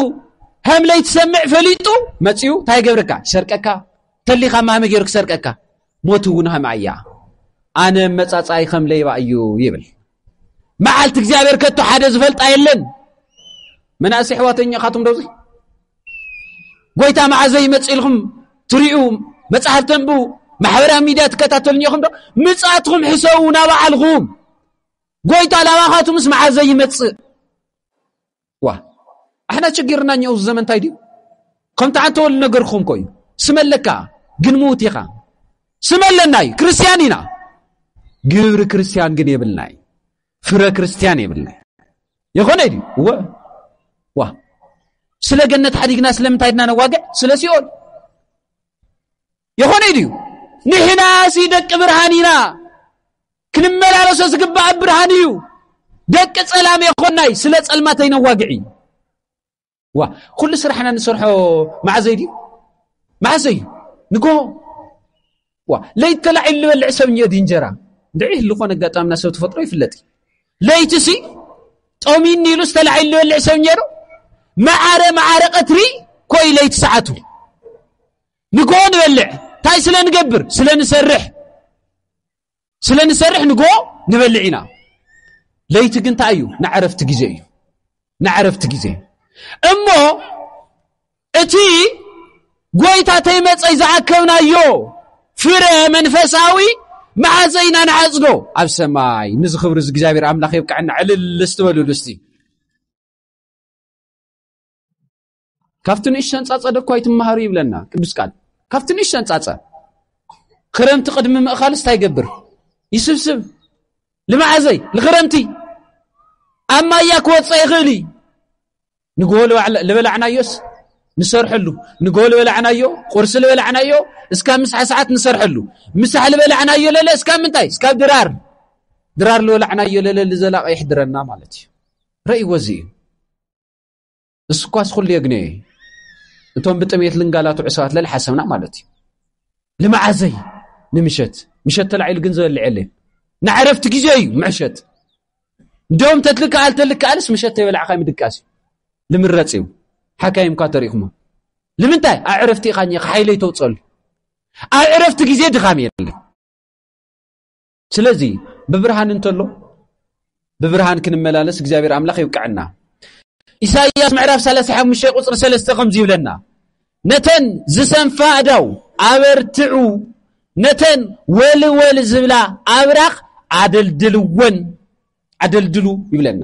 ሃምለይ ትሰምዕ ፈሊጡ መፅኡ እንታይ ገብረካ ይሰርቀካ ተሊኻ ማሃመ ገይሩ ክሰርቀካ ሞት እውን ሃምኣ እያ ኣነ መፃፃይ ከም ለይባ እዩ ይብል መዓልቲ እግዚኣብሔር ከቶ ሓደ ዝፈልጣ የለን መናእሰ ሕዋተኛ ካቶም ዶዚ ጎይታ መዓዘ ይመፅ ኢልኹም ትሪኡ መፅሓፍ ተንብቡ ማሕበራዊ ሚድያ ትከታተሉኝ ኢኹም ዶ ምፅኣትኹም ሕሰቡ ናባዓልኹም ጎይታ ላባኻቱ ምስ መዓዘ ይመጽእ ዋ ኣሕና ችግርና እኛ እዚ ዘመን እንታይ ድዩ ከምቲ ሓንቲ ወል ነገርኩም ኮዩ ስመ ኣለካ ግን ምውት ኢኻ ስመ ኣለና እዩ ክርስትያን ኢና ግብሪ ክርስትያን ግን የብልና እዩ ፍረ ክርስትያን የብልና ይኾነ ድዩ እወ ዋ ስለ ገነት ሓዲግና ስለምንታይ ድና ነዋግዕ ስለ ሲኦል የኾነይ ድዩ ንሕናሲ ደቂ ብርሃን ኢና ክንመላለሶ ዝግባእ ብርሃን እዩ ደቂ ጸላም የኾናይ ስለ ጸልማተይ ነዋግዒ ዋ ኩሉ ስራሕና ንሰርሖ መዓዘይ ድዩ መዓዘይ እዩ ንጎ ዋ ለይት ተላዒሉ ዝበልዕ ሰብ እዮ ድዩ እንጀራ ድዒ ዝኾነ ኣጋጣምና ሰብ ተፈጥሮ ይፍለጥ እዩ ለይቲ ሲ ጠሚኒ ኢሉ ዝተላዒሉ ዝበልዕ ሰብ እዮ ዶ መዓረ መዓረ ቀትሪ ኮይ ለይቲ ሰዓቱ ንግሆ ንበልዕ እንታይ ስለ ንገብር ስለ ንሰርሕ ስለ ንሰርሕ ንግሆ ንበልዕ ኢና ለይቲ ግን እንታይ እዩ ንዕረፍቲ ግዜ እዩ ንዕረፍቲ ግዜ እሞ እቲ ጐይታ ተይመፀይ ዝኣከብናዮ ፍረ መንፈሳዊ መዓዘ ኢና ንዓፅዶ ኣብ ሰማይ ንዚ ክብሪ እዚ እግዚኣብሔር ኣምላኽ የብቅዐና ዕልል ስትበልሉ እስቲ ካብቲ ንእሽተን ጻጸ ደኳ ይትመሃሩ ይብለና ቅዱስ ቃል ካብቲ ንእሽተን ጻጸ ክረምቲ ቅድሚ ምእኻልስ እንታይ ይገብር ይስብስብ ልማዓዘይ ንክረምቲ ኣብ ማያ ክወፀ ይኽእል እዩ ንግሆ ልበላዕናዮስ ንሰርሐሉ ንግሆ ልበላዕናዮ ቁርሲ ልበላዕናዮ እስካብ ምስሓ ሰዓት ንሰርሐሉ ምሳሕ ልበላዕናዮ ለለ እስካብ ምንታይ እስካብ ድራር ድራር ልበላዕናዮ ለለ ልዘላቀ ይሕድረና ማለት እዩ ረእይዎ እዚ እዩ ንስኳስ ኩሉ የግንዮ እዩ እቶም ብጥሜት ልንጋላትዑ ሰባት ለለ ሓሰብና ማለት እዩ ልመዓዘይ ንምሸት ምሸት ተላዒሉ ግን ዝበልዕ የለን ንዕረፍቲ ግዜ እዩ ምዕሸት እንዲኦም ተትልክኣል ተልክኣልስ ምሸት ተይበላዕካ ምድቃስ እዩ ልምረፅ እዩ ሓካይም እኳ ተሪእኹሞ ልምንታይ ኣብ ዕረፍቲ ኢኻ ኒኻ ሓይለይ ተውፀሉ ኣብ ዕረፍቲ ግዜ ድኻም የለን ስለዚ ብብርሃን እንተሎ ብብርሃን ክንመላለስ እግዚኣብሔር ኣምላኽ ይብቅዐና ኢሳይያስ ምዕራፍ 35 ቁፅሪ 3 ከምዚ ይብለና ነተን ዝሰንፋ ኣዳው ኣበርትዑ ነተን ወልወል ዝብላ ኣብራኽ ኣደልድልወን ኣደልድሉ ይብለና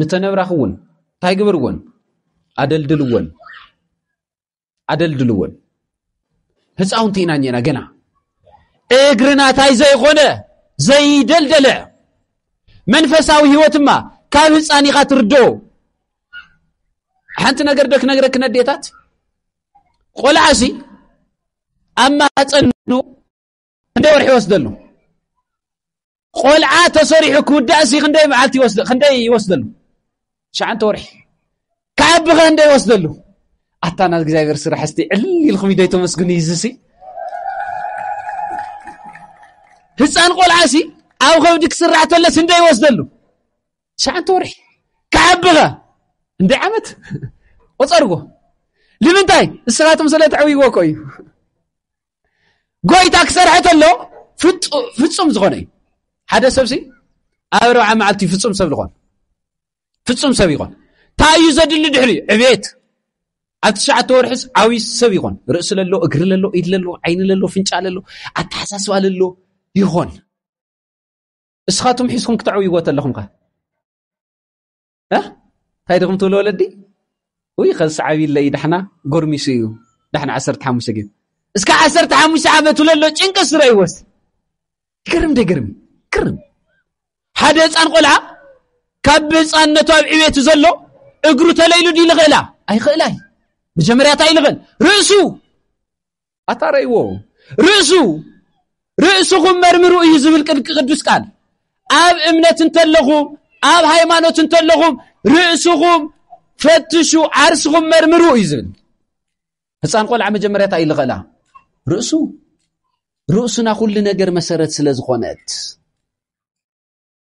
ንተን ኣብራኽ እውን እንታይ ግበርዎን ኣደልድልዎን ኣደልድልዎን ህፃውንቲ ኢና እኒና ገና እግርና እንታይ ዘይኾነ ዘይደልደለ መንፈሳዊ ህይወት እማ ካብ ህፃን ኢኻ ትርዶ ሓንቲ ነገር ዶ ክነግረክ ነዴታት ቆልዓ ሲ ኣብ ማህፀኑ ክንደይ ወርሒ ይወስደሉ ቆልዓ ተሰሪሑ ክውዳእሲ ክንደይ መዓልቲ ክንደይ ይወስደሉ ሸዓንተ ወርሒ ክዓቢ ኸ እንደ ይወስደሉ ኣታ ናብ እግዚኣብሔር ስራሕ እስቲ ዕል ኢልኩም ኢደይ ተመስግኑ ይዝሲ ህፃን ቆልዓሲ ኣብ ከብዲ ክስራሕ ተለስ እንደ ይወስደሉ ሸዓንተ ወርሒ ክዓቢ ኸ እንደ ዓመት ቆፀርዎ ንምንታይ ንስኻትኩም ስለ ተዕብይዎ እኮ እዩ ጎይታ ክሰርሐ ተሎ ፍጹም ዝኾነ እዩ ሓደ ሰብሲ ኣብ ኣርብዓ መዓልቲ ፍጹም ሰብ ዝኾን ፍጹም ሰብ ይኾን እንታይ እዩ ዘድሊ ድሕሪ ዕቤት ኣብ ትሽዓተ ወርሒስ ዓብዪ ሰብ ይኾን ርእሲ ለሎ እግሪ ለሎ ኢድ ለሎ ዓይኒ ለሎ ፍንጫ ለሎ ኣተሓሳስባ ለሎ ይኾን እስኻቶም ሒዝኩም ክተዕብይዎ ተለኹም ከ እንታይ ድኹም ትብሉ ወለዲ ውይ ከዚ ሰዓቢለ እዩ ዳሕና ጎርሚሱ እዩ ዳሕና ዓሰርተ ሓሙሽተ ግን እስከ ዓሰርተ ሓሙሽተ ዓመት ለሎ ጭንቂ ስረ ይወስ ይገርም ደገርም ግርም ሓደ ህፃን ቆልዓ ካብ ብህፃንነቱ ኣብ ዕቤቱ ዘሎ እግሩ ተለይሉ ድዩ ልኽእላ ኣይኽእላ እዩ መጀመርያታ ይልኽእል ርእሱ ኣታ ረእይዎ ርእሱ ርእስኹም መርምሩ እዩ ዝብል ቅዱስ ቃል ኣብ እምነት እንተለኹም ኣብ ሃይማኖት እንተለኹም ርእስኹም ፈትሹ ዓርስኹም መርምሩ እዩ ዝብል ህፃን ቆልዓ መጀመርያ እንታይ እዩ ዝኸእላ ርእሱ ርእሱና ኩሉ ነገር መሰረት ስለ ዝኾነት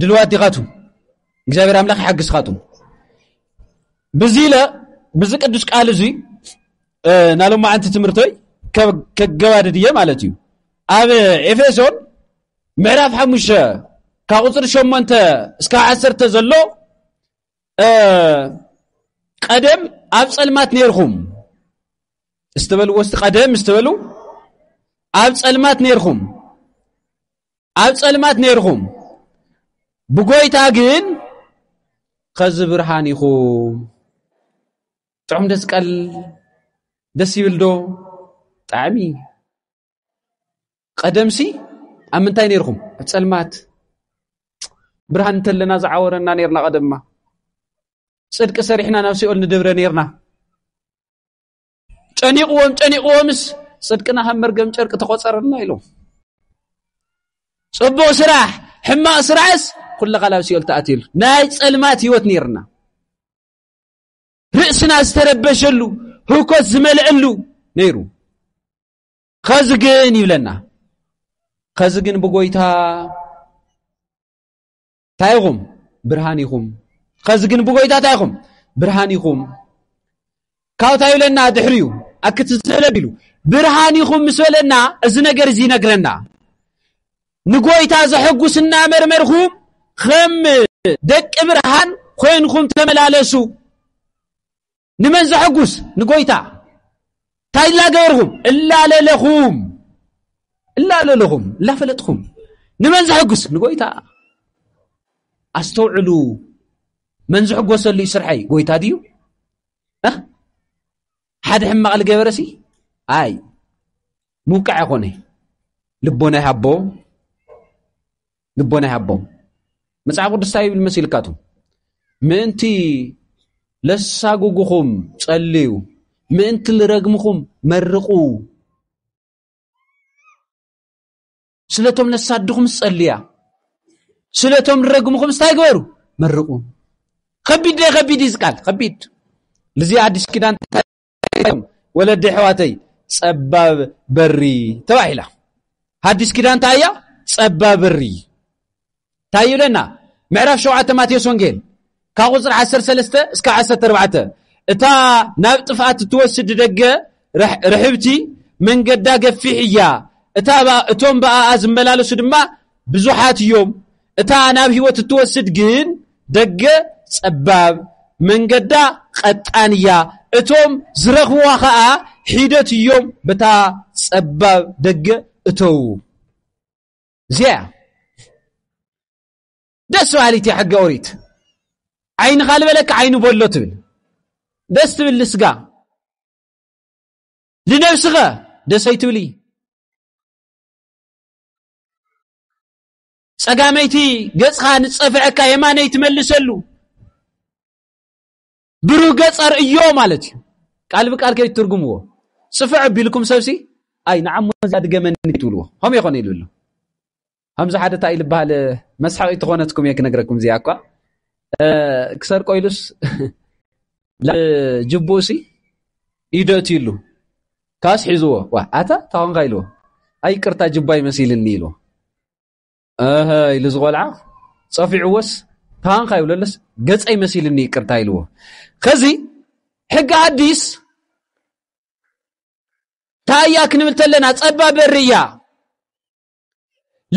ድልዋት ዲኻ ቱም እግዚኣብሔር ኣምላኽ ይሓግዝካ ቱም ብዚ ኢለ ብዚ ቅዱስ ቃል እዙይ ናሎማዓንቲ ትምህርተይ ከገባድድ እየ ማለት እዩ ኣብ ኤፌሶን ምዕራፍ ሓሙሽተ ካብ ቁፅሪ ሸሞንተ እስካ ዓሰርተ ዘሎ ቀደም ኣብ ፀልማት ነይርኹም እስትበልዎ ስቲ ቀደም እስትበሉ ኣብ ፀልማት ነይርኹም ኣብ ጸልማት ነርኹም ብጎይታ ግን ኸዚ ብርሃን ኢኹም ጥዑም ደስ ቀል ደስ ይብል ዶ ጣዕሚ ቀደምሲ ኣብ ምንታይ ነርኹም ኣብ ጸልማት ብርሃን እንተለና ዝዓወረና ነርና ቀደማ ጽድቂ ሰሪሕና ናብ ሲኦል ንድብረ ነርና ጨኒቕዎም ጨኒቕዎምስ ጽድቅና ከም መርገም ጨርቂ ተቖጸረልና ኢሎም ጽቡቕ ስራሕ ሕማቕ ስራሕስ ኩልኻ ናብ ሲኦል ተኣትየሉ ናይ ጸልማት ህይወት ነይርና ርእስና ዝተረበሸሉ ህውከት ዝመልአሉ ነይሩ ኸዚ ግን ይብለና ኸዚ ግን ብጎይታ እንታይ ኢኹም ብርሃን ኢኹም ኸዚ ግን ብጎይታ እንታይ ኢኹም ብርሃን ኢኹም ካብ እንታይ ይብለና ድሕሪ እዩ ኣክትዘለ ቢሉ ብርሃን ኢኹም ምስ በለና እዚ ነገር እዚ ይነግረና ንጎይታ ዘሐጉስ እናመርመርኹም ከም ደቂ ብርሃን ኮይንኹም ተመላለሱ ንመን ዘሐጉስ ንጎይታ እንታይ እላገበርኹም እላለለኹም እላለለኹም እላፈለጥኹም ንመን ዘሐጉስ ንጎይታ ኣስተውዕሉ መን ዝሕጎሰሉ እዩ ስርሐይ ጎይታ ድዩ ሓደ ሕማቕ ልገበረ ሲ ኣይ ምውቃዕ ኮነ ልቦና ይሃቦ ልቦና ይሃቦም መጽሓፍ ቅዱስ እንታይ ይብል መሲልካቱ ምእንቲ ለሳጉጉኹም ጸልዩ ምእንቲ ልረግምኹም መርቑ ስለቶም ለሳድኹም ጸልያ ስለቶም ልረግምኹም ስታይ ግበሩ መርቑ ከቢድ ደ ከቢድ ይዝቃል ከቢድ ልዚ ኣዲስ ኪዳን ኢሎም ወለዲ ኣሕዋተይ ጸባብ በሪ ተባሂላ ሓድሽ ኪዳን እንታይ እያ ጸባብ በሪ እንታይ ይብለና ምዕራፍ ሸውዓተ ማቴዎስ ወንጌል ካብ ቁፅሪ ዓሰርተ ሰለስተ እስካ ዓሰርተ ኣርባዕተ እታ ናብ ጥፍኣት እትወስድ ደገ ርሕብቲ መንገዳ ገፊሕ እያ እታ እቶም ብኣኣ ዝመላለሱ ድማ ብዙሓት እዮም እታ ናብ ህይወት እትወስድ ግን ደገ ጸባብ፣ መንገዳ ቐጣን እያ፣ እቶም ዝረኽብዋ ኸኣ ሒደት እዮም በታ ጸባብ ደገ እተዉ። እዚያ ደስ በሃሊት እያ ሕገ ኦሪት። ዓይንኻ ልበለካ ዓይኑ በሎ ትብል ደስ ትብል ልስጋ ልነብስኸ ደሰይ ትብሊ ጸጋመይቲ ገጽኻ ንጸፍዐካ የማነይ ትመልሰሉ ብሩህ ገጽ ኣርእዮ ማለት እዩ ቃል ብቃል ከይ ትርጉምዎ ጽፍዕ ቢልኩም ሰብሲ ኣይ ንዓሞ እዛ ድገመኒ ትብልዎ ከም ይኾነ ኢሉ ኣሎ ከምዚ ሓደ እንታይ ኢሉ በሃል መስሓቂ ትኾነትኩም እየ ክነግረኩም እዚኣ እኳ ክሰርቆ ኢሉስ ጅቡሲ ይደትዩሉ ካስ ሒዝዎ ዋ ኣታ ታኾንካ ኢልዎ ኣይ ቅርታ ጅባይ መሲልኒ ኢልዎ እህ ኢሉ ዝቆልዓ ፀፊዕዎስ ታንካ ይብለለስ ገፀይ መሲልኒ ይቅርታ ኢልዎ ከዚ ሕጊ ኣዲስ ታያ ክንብል ተለና ፀባ በርያ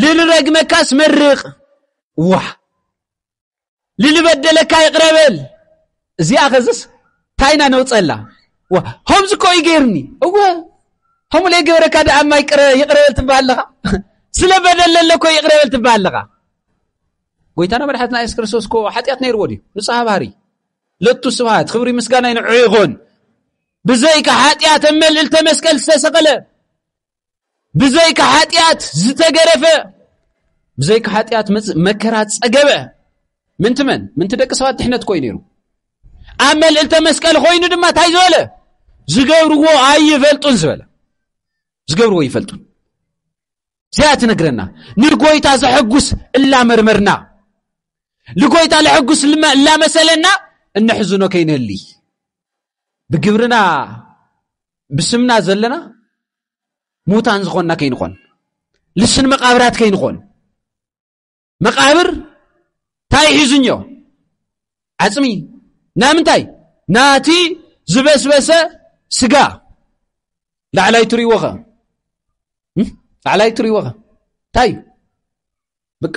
ልልረግመካስ መርቕ ዋ ልልበደለካ ይቕረበል እዚኣ ኸዝስ ታይና ነውፀላ ዋ ከምዚ እኮ እዩ ገይርኒ እወ ከምኡ ለይገበረካ ደኣ እማ ይቕረበል ትበሃል ኣለኻ ስለ በደለ ኣለኮ ይቕረበል ትበሃል ኣለኻ ጎይታና መድሓትና የሱስ ክርስቶስ እኮ ሓጢኣት ነይርዎ ድዩ ንፅሃ ባህሪ ለቱ ስብሃት ክብሪ ምስጋና ይንዑ ይኹን ብዘይካ ሓጢኣት መልእልተ መስቀል ዝተሰቐለ ብዘይካ ሓጢኣት ዝተገረፈ ብዘይካ ሓጢኣት መከራ ጸገበ ምንቲ መን ምንቲ ደቂ ሰባት ድሕነት ኮይኑ ነይሩ ኣብ መልእልተ መስቀል ኮይኑ ድማ እንታይ ዝበለ ዝገብርዎ ኣይፈልጡን ዝበለ ዝገብርዎ ይፈልጡን እዚኣ ትነግረና ንጎይታ ዘሐጉስ እላመርመርና ንጎይታ ለሐጉስ እላመሰለና እነሕዝኖ ከይንህልይ ብግብርና ብስምና ዘለና ሙታን ዝኾንና ከይንኾን ልስን መቓብራት ከይንኾን መቓብር እንታይ ሒዙኞ ዓፅሚ ናምንታይ ናቲ ዝበስበሰ ስጋ ላዕላይ ትርእይዎ ኸ ላዕላይ ትርእይዎ ኸ እንታይ እዩ በቃ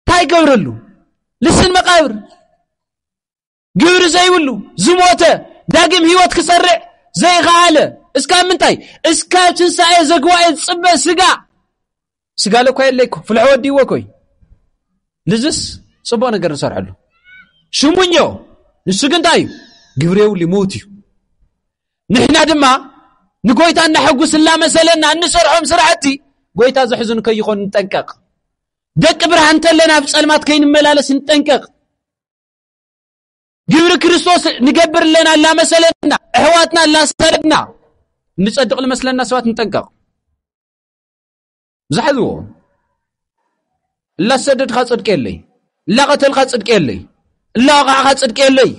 እንታይ ይገብረሉ ልስን መቃብር ግብሪ ዘይብሉ ዝሞተ ዳግም ህይወት ክሰርዕ ዘይኸኣለ እስካብ ምንታይ እስካብ ትንሳኤ ዘግዋኤ ዝፅበ ስጋ ስጋ ለኳ የለይኮ ፍልሖ ወዲዎ ኮይ ልዝስ ፅቡቅ ነገር ንሰርሐሉ ሽሙኞ ንሱ ግን እንታይ እዩ ግብሪ የብሉ ምውት እዩ ንሕና ድማ ንጎይታ እናሐጉስ እናመሰለና እንሰርሖም ስራሕቲ ጎይታ ዘሕዝኑ ከይኾኑ ንጠንቀቕ ደቂ ብርሃን እንተለና ኣብ ጸልማት ከይንመላለስ ንጠንቀቕ ግብሪ ክርስቶስ ንገብር ኣለና እላመሰለና ኣሕዋትና እላሰለድና እንጸድቕ ልመስለና ሰባት ንጠንቀቕ ዝሓዝዎ እላሰደድካ ጽድቂ የለይ እላቐተልካ ጽድቂ የለይ እላወቓዕኻ ጽድቂ የለይ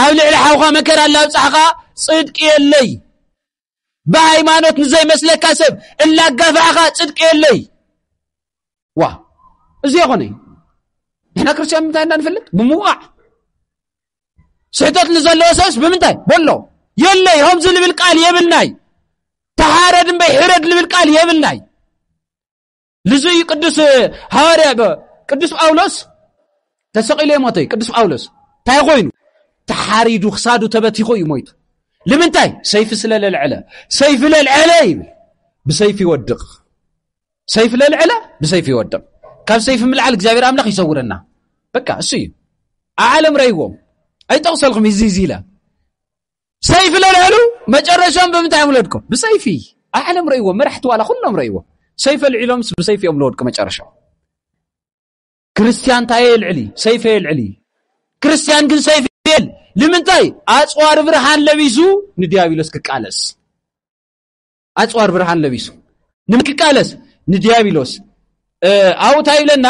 ኣብ ልዕሊ ሓውኻ መከራ እላብጻሕኻ ጽድቂ የለይ ብሃይማኖት ንዘይመስለካ ሰብ እላጋፋዕኻ ጽድቂ የለይ ዋ እዚ የኾነ እዩ ንሕና ክርስትያን ምንታይ እንዳ ንፈልጥ ብምውቃዕ ስሕተት ንዘለዎ ሰብስ ብምንታይ በሎ የለይ ከምዚ ልብል ቃል የብልናይ ተሓረድ እምበይ ሕረድ ልብል ቃል የብልናይ ልዙ እዩ ቅዱስ ሃዋርያ ቅዱስ ጳውሎስ ተሰቒሉ የሞተ እዩ ቅዱስ ጳውሎስ እንታይ ኮይኑ ተሓሪዱ ክሳዱ ተበቲኹ እዩ ሞይቱ ልምንታይ ሰይፊ ስለ ለልዐለ ሰይፊ ለልዐለ ይብል ብሰይፊ ይወድቕ ሰይፊ ለልዐለ ብሰይፊ ይወድቕ ካብ ሰይፊ ምልዓል እግዚኣብሔር ኣምላኽ ይሰውረና በቃ እሱ እዩ ኣብ ዓለም ረይዎም ኣይጠቕሰልኩም እዚ እዚ ኢለ ሰይፊ ለልዕሉ መጨረሻም ብምንታይ እዮም ለድቁ ብሰይፊ ዓለም ረእዎ መራሕቲ ዋላ ኩሎም ረእዎ ሰይፈ ልዒሎምስ ብሰይፊ እዮም ለወድቁ መጨረሻ ክርስትያን እንታይ የልዕሊ ሰይፈ የልዕሊ ክርስትያን ግን ሰይፊ የል ንምንታይ ኣፅዋር ብርሃን ለቢሱ ንዲያብሎስ ክቃለስ ኣጽዋር ብርሃን ለቢሱ ንምክቃለስ ንዲያብሎስ ኣብኡ እንታይ ይብለና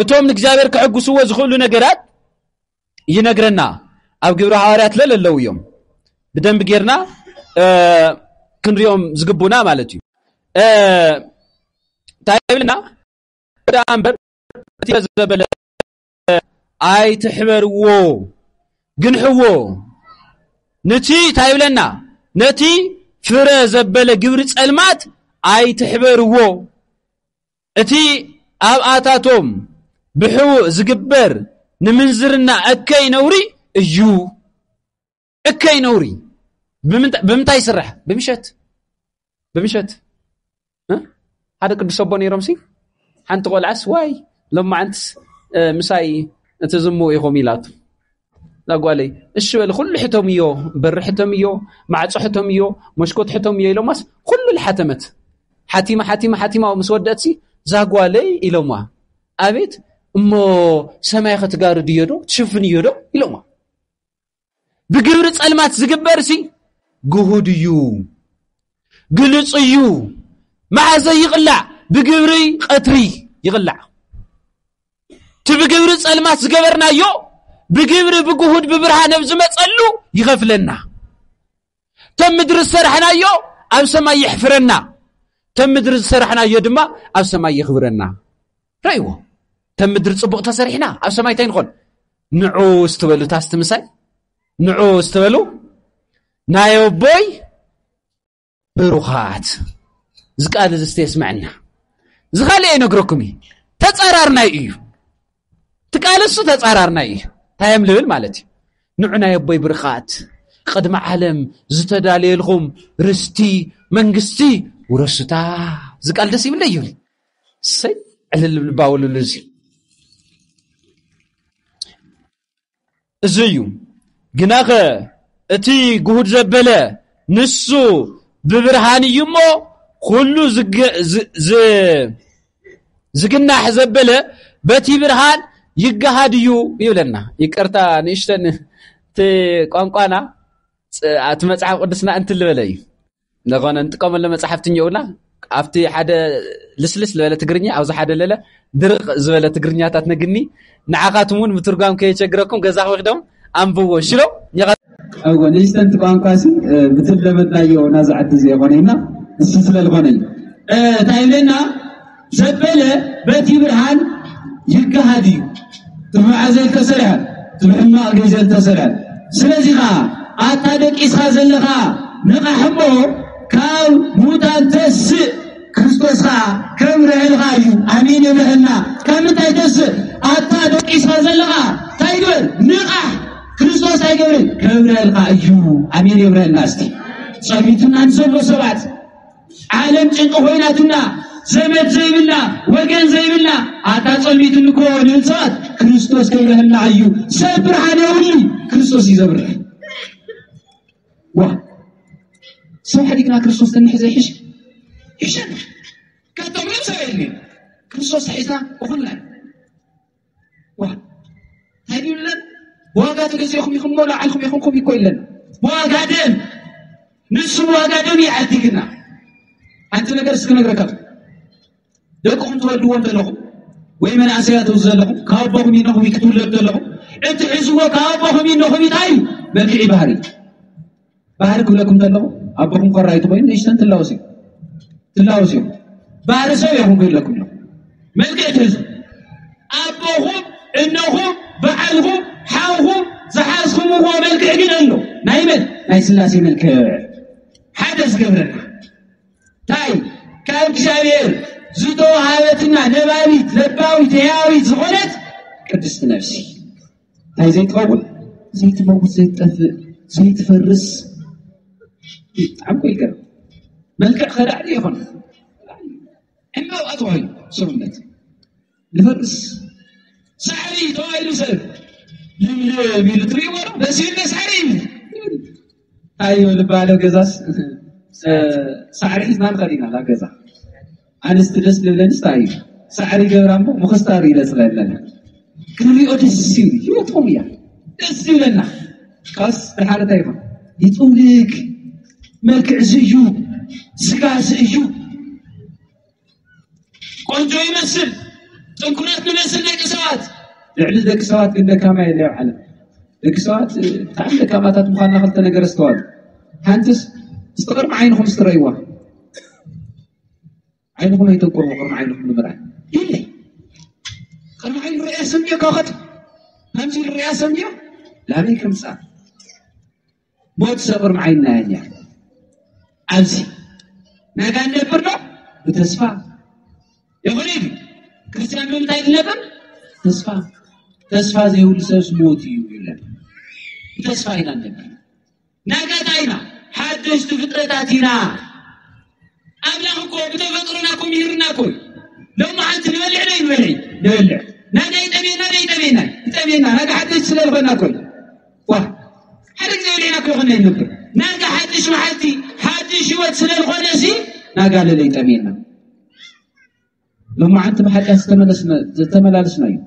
እቶም ንእግዚኣብሔር ክሕግስዎ ዝኽእሉ ነገራት ይነግረና ኣብ ግብሪ ሃዋርያት ለለ ኣለዉ እዮም ብደንቢ ጌርና ክንሪኦም ዝግቡና ማለት እዩ እንታይ ይብለና ደኣ እምበር ዘበለ ኣይትሕበርዎ ግንሕዎ ንቲ እንታይ ይብለና ነቲ ፍረ ዘበለ ግብሪ ጸልማት ኣይትሕበርዎ እቲ ኣብኣታቶም ብሕቡእ ዝግበር ንምንዝርና እከይ ነውሪ እዩ እከይ ነውሪ ብምንታይ ይስራሕ ብምሸት ብምሸት ሓደ ቅዱስ ኣቦ ነይሮምሲ ሓንቲ ቆልዓስ ዋይ ሎማዓንትስ ምሳይ እቲ ዝሙ ኢኹም ኢላቱ ጓለይ እሺ በል ኩሉ ሕቶም እዮ በሪ ሕቶም እዮ ማዕፆ ሕቶም እዮ መሽኮት ሕቶም እዮ ኢሎማስ ኩሉ ልሓተመት ሓቲማ ሓቲማ ሓቲማ ምስ ወደእትሲ ዛጓለይ ኢሎማ ኣቤት እሞ ሰማይ ከትጋርድ እዮ ዶ ትሽፍን እዮ ዶ ኢሎማ ብግብሪ ጸልማት ዝግበርሲ ግሁድ እዩ ግልጹ እዩ መዓዘ ይቕላዕ ብግብሪ ቐትሪ ይቕላዕ እቲ ብግብሪ ጸልማት ዝገበርናዮ ብግብሪ ብግሁድ ብብርሃን ኣብ ዝመጸሉ ይኸፍለና ተም ምድሪ ዝሰራሕናዮ ኣብ ሰማይ የሕፍረና ተም ምድሪ ዝሰራሕናዮ ድማ ኣብ ሰማይ የኽብረና ረይዎ ተም ምድሪ ፅቡቕ ተሰሪሕና ኣብ ሰማይ እንታይ ንኾን ንዑ ስትበሉ ታስቲ ምሳይ ንዑ ስትበሉ ናይ ኣቦይ ብሩኻት እዚ ቃል እዚ ስተ የስምዐና እዚ ካልእ የነግረኩም እዩ ተፃራርናይ እዩ ትቃለሱ ተጻራርና እዩ ታይም ልብል ማለት እዩ ንዑ ናይ ኣቦይ ብርኻት ቕድሚ ዓለም ዝተዳለየልኹም ርስቲ መንግስቲ ውረሱታ ዝቃል ደስ ይብለ እዩ ሰይ ዕልልብልባውልሉ እዚ እዚ እዩ ግናኸ እቲ ግሁድ ዘበለ ንሱ ብብርሃን እዩ እሞ ኩሉ ዝግናሕ ዘበለ በቲ ብርሃን ይገሃድ እዩ ይብለና ይቅርታ ንእሽተን እቲ ቋንቋና እቲ መፅሓፍ ቅዱስና እንትልበለ እዩ ንኾነ ንጥቀመሉ መጻሕፍቲ እኒኦውና ኣብቲ ሓደ ልስልስ ዝበለ ትግርኛ ኣብዚ ሓደ ለለ ድርቕ ዝበለ ትግርኛታት ነግኒ ንዓኻትም እውን ምትርጓም ከየቸግረኩም ገዛ ክወስዶም ኣንብዎ ሽሎ እወ ንእሽተንቲ ቋንቋ ሲ ብትለመድናዮ ናዝዓዲ ዘየኾነ ኢና ንሱ ስለዝኾነ እዩ እንታይ ኢለና ዘበለ በቲ ብርሃን ይገሃድ እዩ ትብዓ ዘይተሰርሐ ትብሕማቕ ግዜ ዝተሰርሐ ስለዚ ከዓ ኣታ ደቂስኻ ዘለኻ ንቓሕ እሞ ካብ ሙታን ተስእ ክርስቶስ ከዓ ከም ርዕልኻ እዩ ኣሚን ይብርህና ካብ ምንታይ ተስእ ኣታ ደቂስኻ ዘለኻ እንታይ ግበር ንቓሕ ክርስቶስ ኣይገብርን ከም ርዕልኻ እዩ ኣሚን ይብረህና እስቲ ጸሚቱና ንዘሎ ሰባት ዓለም ጭንቂ ኮይናትና ዘመድ ዘይብላ ወገን ዘይብላ ኣታ ጸልሚትን እኮ ንእንስሳት ክርስቶስ ከይረህና እዩ ሰብ ብርሃን የብሉ ክርስቶስ እዩ ዘብርህ ዋ ሰብ ሕዲግና ክርስቶስ ተንሕዘ ይሕሽ ይሸን ከተምር ሰብ የድልዩ ክርስቶስ ሒዝና እኹልና እንታይ ድዩ ለን ብዋጋ ተገዚእኹም ኢኹም እሞ ላዕልኩም ይኹንኩም ይኮ ይለን ብዋጋ ደም ንሱ ብዋጋ ደም ይዓዲግና ሓንቲ ነገር እስኪ ነግረካ ደቅኹም ትወልድዎም ዘለኹም ወይ መናእሰያት ዝ ዘለኹም ካብ ኣቦኹም ይነኹም ክትውለዱ ዘለኹም እቲ ሕዝዎ ካብ ኣቦኹም ይነኹም እንታይ እዩ መልክዒ ባህሪ ባህሪ ክብለኩም ከለኹ ኣቦኹም ኮራይቲ ኮይኑ ንእሽተን ትላወስ እዩ ትላወስ እዩ ባህሪ ሰብ እዮም ክብለኩም እዮም መልክዕ ትሕዙ ኣቦኹም እነኹም በዓልኹም ሓውኹም ዝሓዝኩምዎ መልክዕ ግን ኣሎ ናይ መን ናይ ስላሴ መልክዕ ሓደ ዝገብረና እንታይ ካብ እግዚኣብሔር ዝተዋሃበትና ነባቢት ለባዊት ህያዊት ዝኾነት ቅድስቲ ነፍሲ እንታይ ዘይትኸውን ዘይትመውት ዘይትጠፍእ ዘይትፈርስ ብጣዕሚ እኮ ይገርም መልክዕ ከዳዕ ድዩ ይኾን ዕምበባ ተባሂሉ ሰውነት ንፈርስ ሳዕሪ ተባሂሉ ሰብ ልምልም ኢሉ ትርእይዎ ዶ በሲሉ ሳዕሪ እዩ እንታይ እዩ ልባለ ገዛስ ሳዕሪ ሒዝና ንኸድ ኢና ናብ ገዛ ኣንስቲ ደስ ልብለንስ እንታይ እዩ ሳዕሪ ገብራ እሞ ምኽስታር እዩ ደስ ለብለና ክንሪኦ ደስ እዩ ሂወቶም እያ ደስ ይብለና ካስ ድሓር እንታይ ይኾን ይጥውልግ መልክዕ እዚ እዩ ስጋ እዚ እዩ ቆንጆ ይመስል ጥንኩረት ንመስል ደቂ ሰባት ልዕሊ ደቂ ሰባት ግን ደካማ የለ ኣብ ዓለም ደቂ ሰባት ብጣዕሚ ደካማታት ምኳና ክልተ ነገር ኣስተዋሉ ሓንቲስ እስቲ ቅርሚ ዓይንኹም ስትረይዋ ዓይንኹም ኣይተንቁርዎ ቅርሚ ዓይንኹም ንምርኣይ የለ ቅርሚ ዓይን ርያ ሰምዮ ካኸት ከምዚ ርያ ሰምዮ ላበይ ከምፃ ሞት ሰቕር መዓይናያን እያ ኣብዚ ናይ ጋን ነብር ዶ ብተስፋ ይኹን ኢሉ ክርስትያን ብምንታይ ዝነብር ተስፋ ተስፋ ዘይብሉ ሰብስ ሞት እዩ ይብለና ብተስፋ ኢና ነብር ናይ ጋታ ኢና ሓደሽቲ ፍጥረታት ኢና ኣምላኽ እኮ ብተፈጥሮና እኮ ምሂርና እኮ እዩ ሎሚ ሓንቲ ንበልዕ ዶ ይንበልዕ ንበልዕ ናጋ ይጠሜና ዶ ይጠሜና ይጠሜና ናጋ ሓደሽቲ ስለዝኾና እኮ እዩ ዋ ሓደ ግዜ ኢለና ክኾነ ይነብር ናጋ ሓድሽ መዓልቲ ሓድሽ ህይወት ስለ ዝኾነ ሲ ናጋ ለለይ ጠሜና ሎማዓንቲ ብሓጢኣት ዝተመላለስና እዩ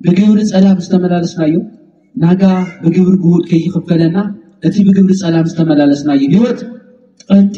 ብግብሪ ፀላም ዝተመላለስና እዩ ናጋ ብግብሪ ግውድ ከይኽፈለና እቲ ብግብሪ ፀላም ዝተመላለስና እዩ ህይወት ጠንጢ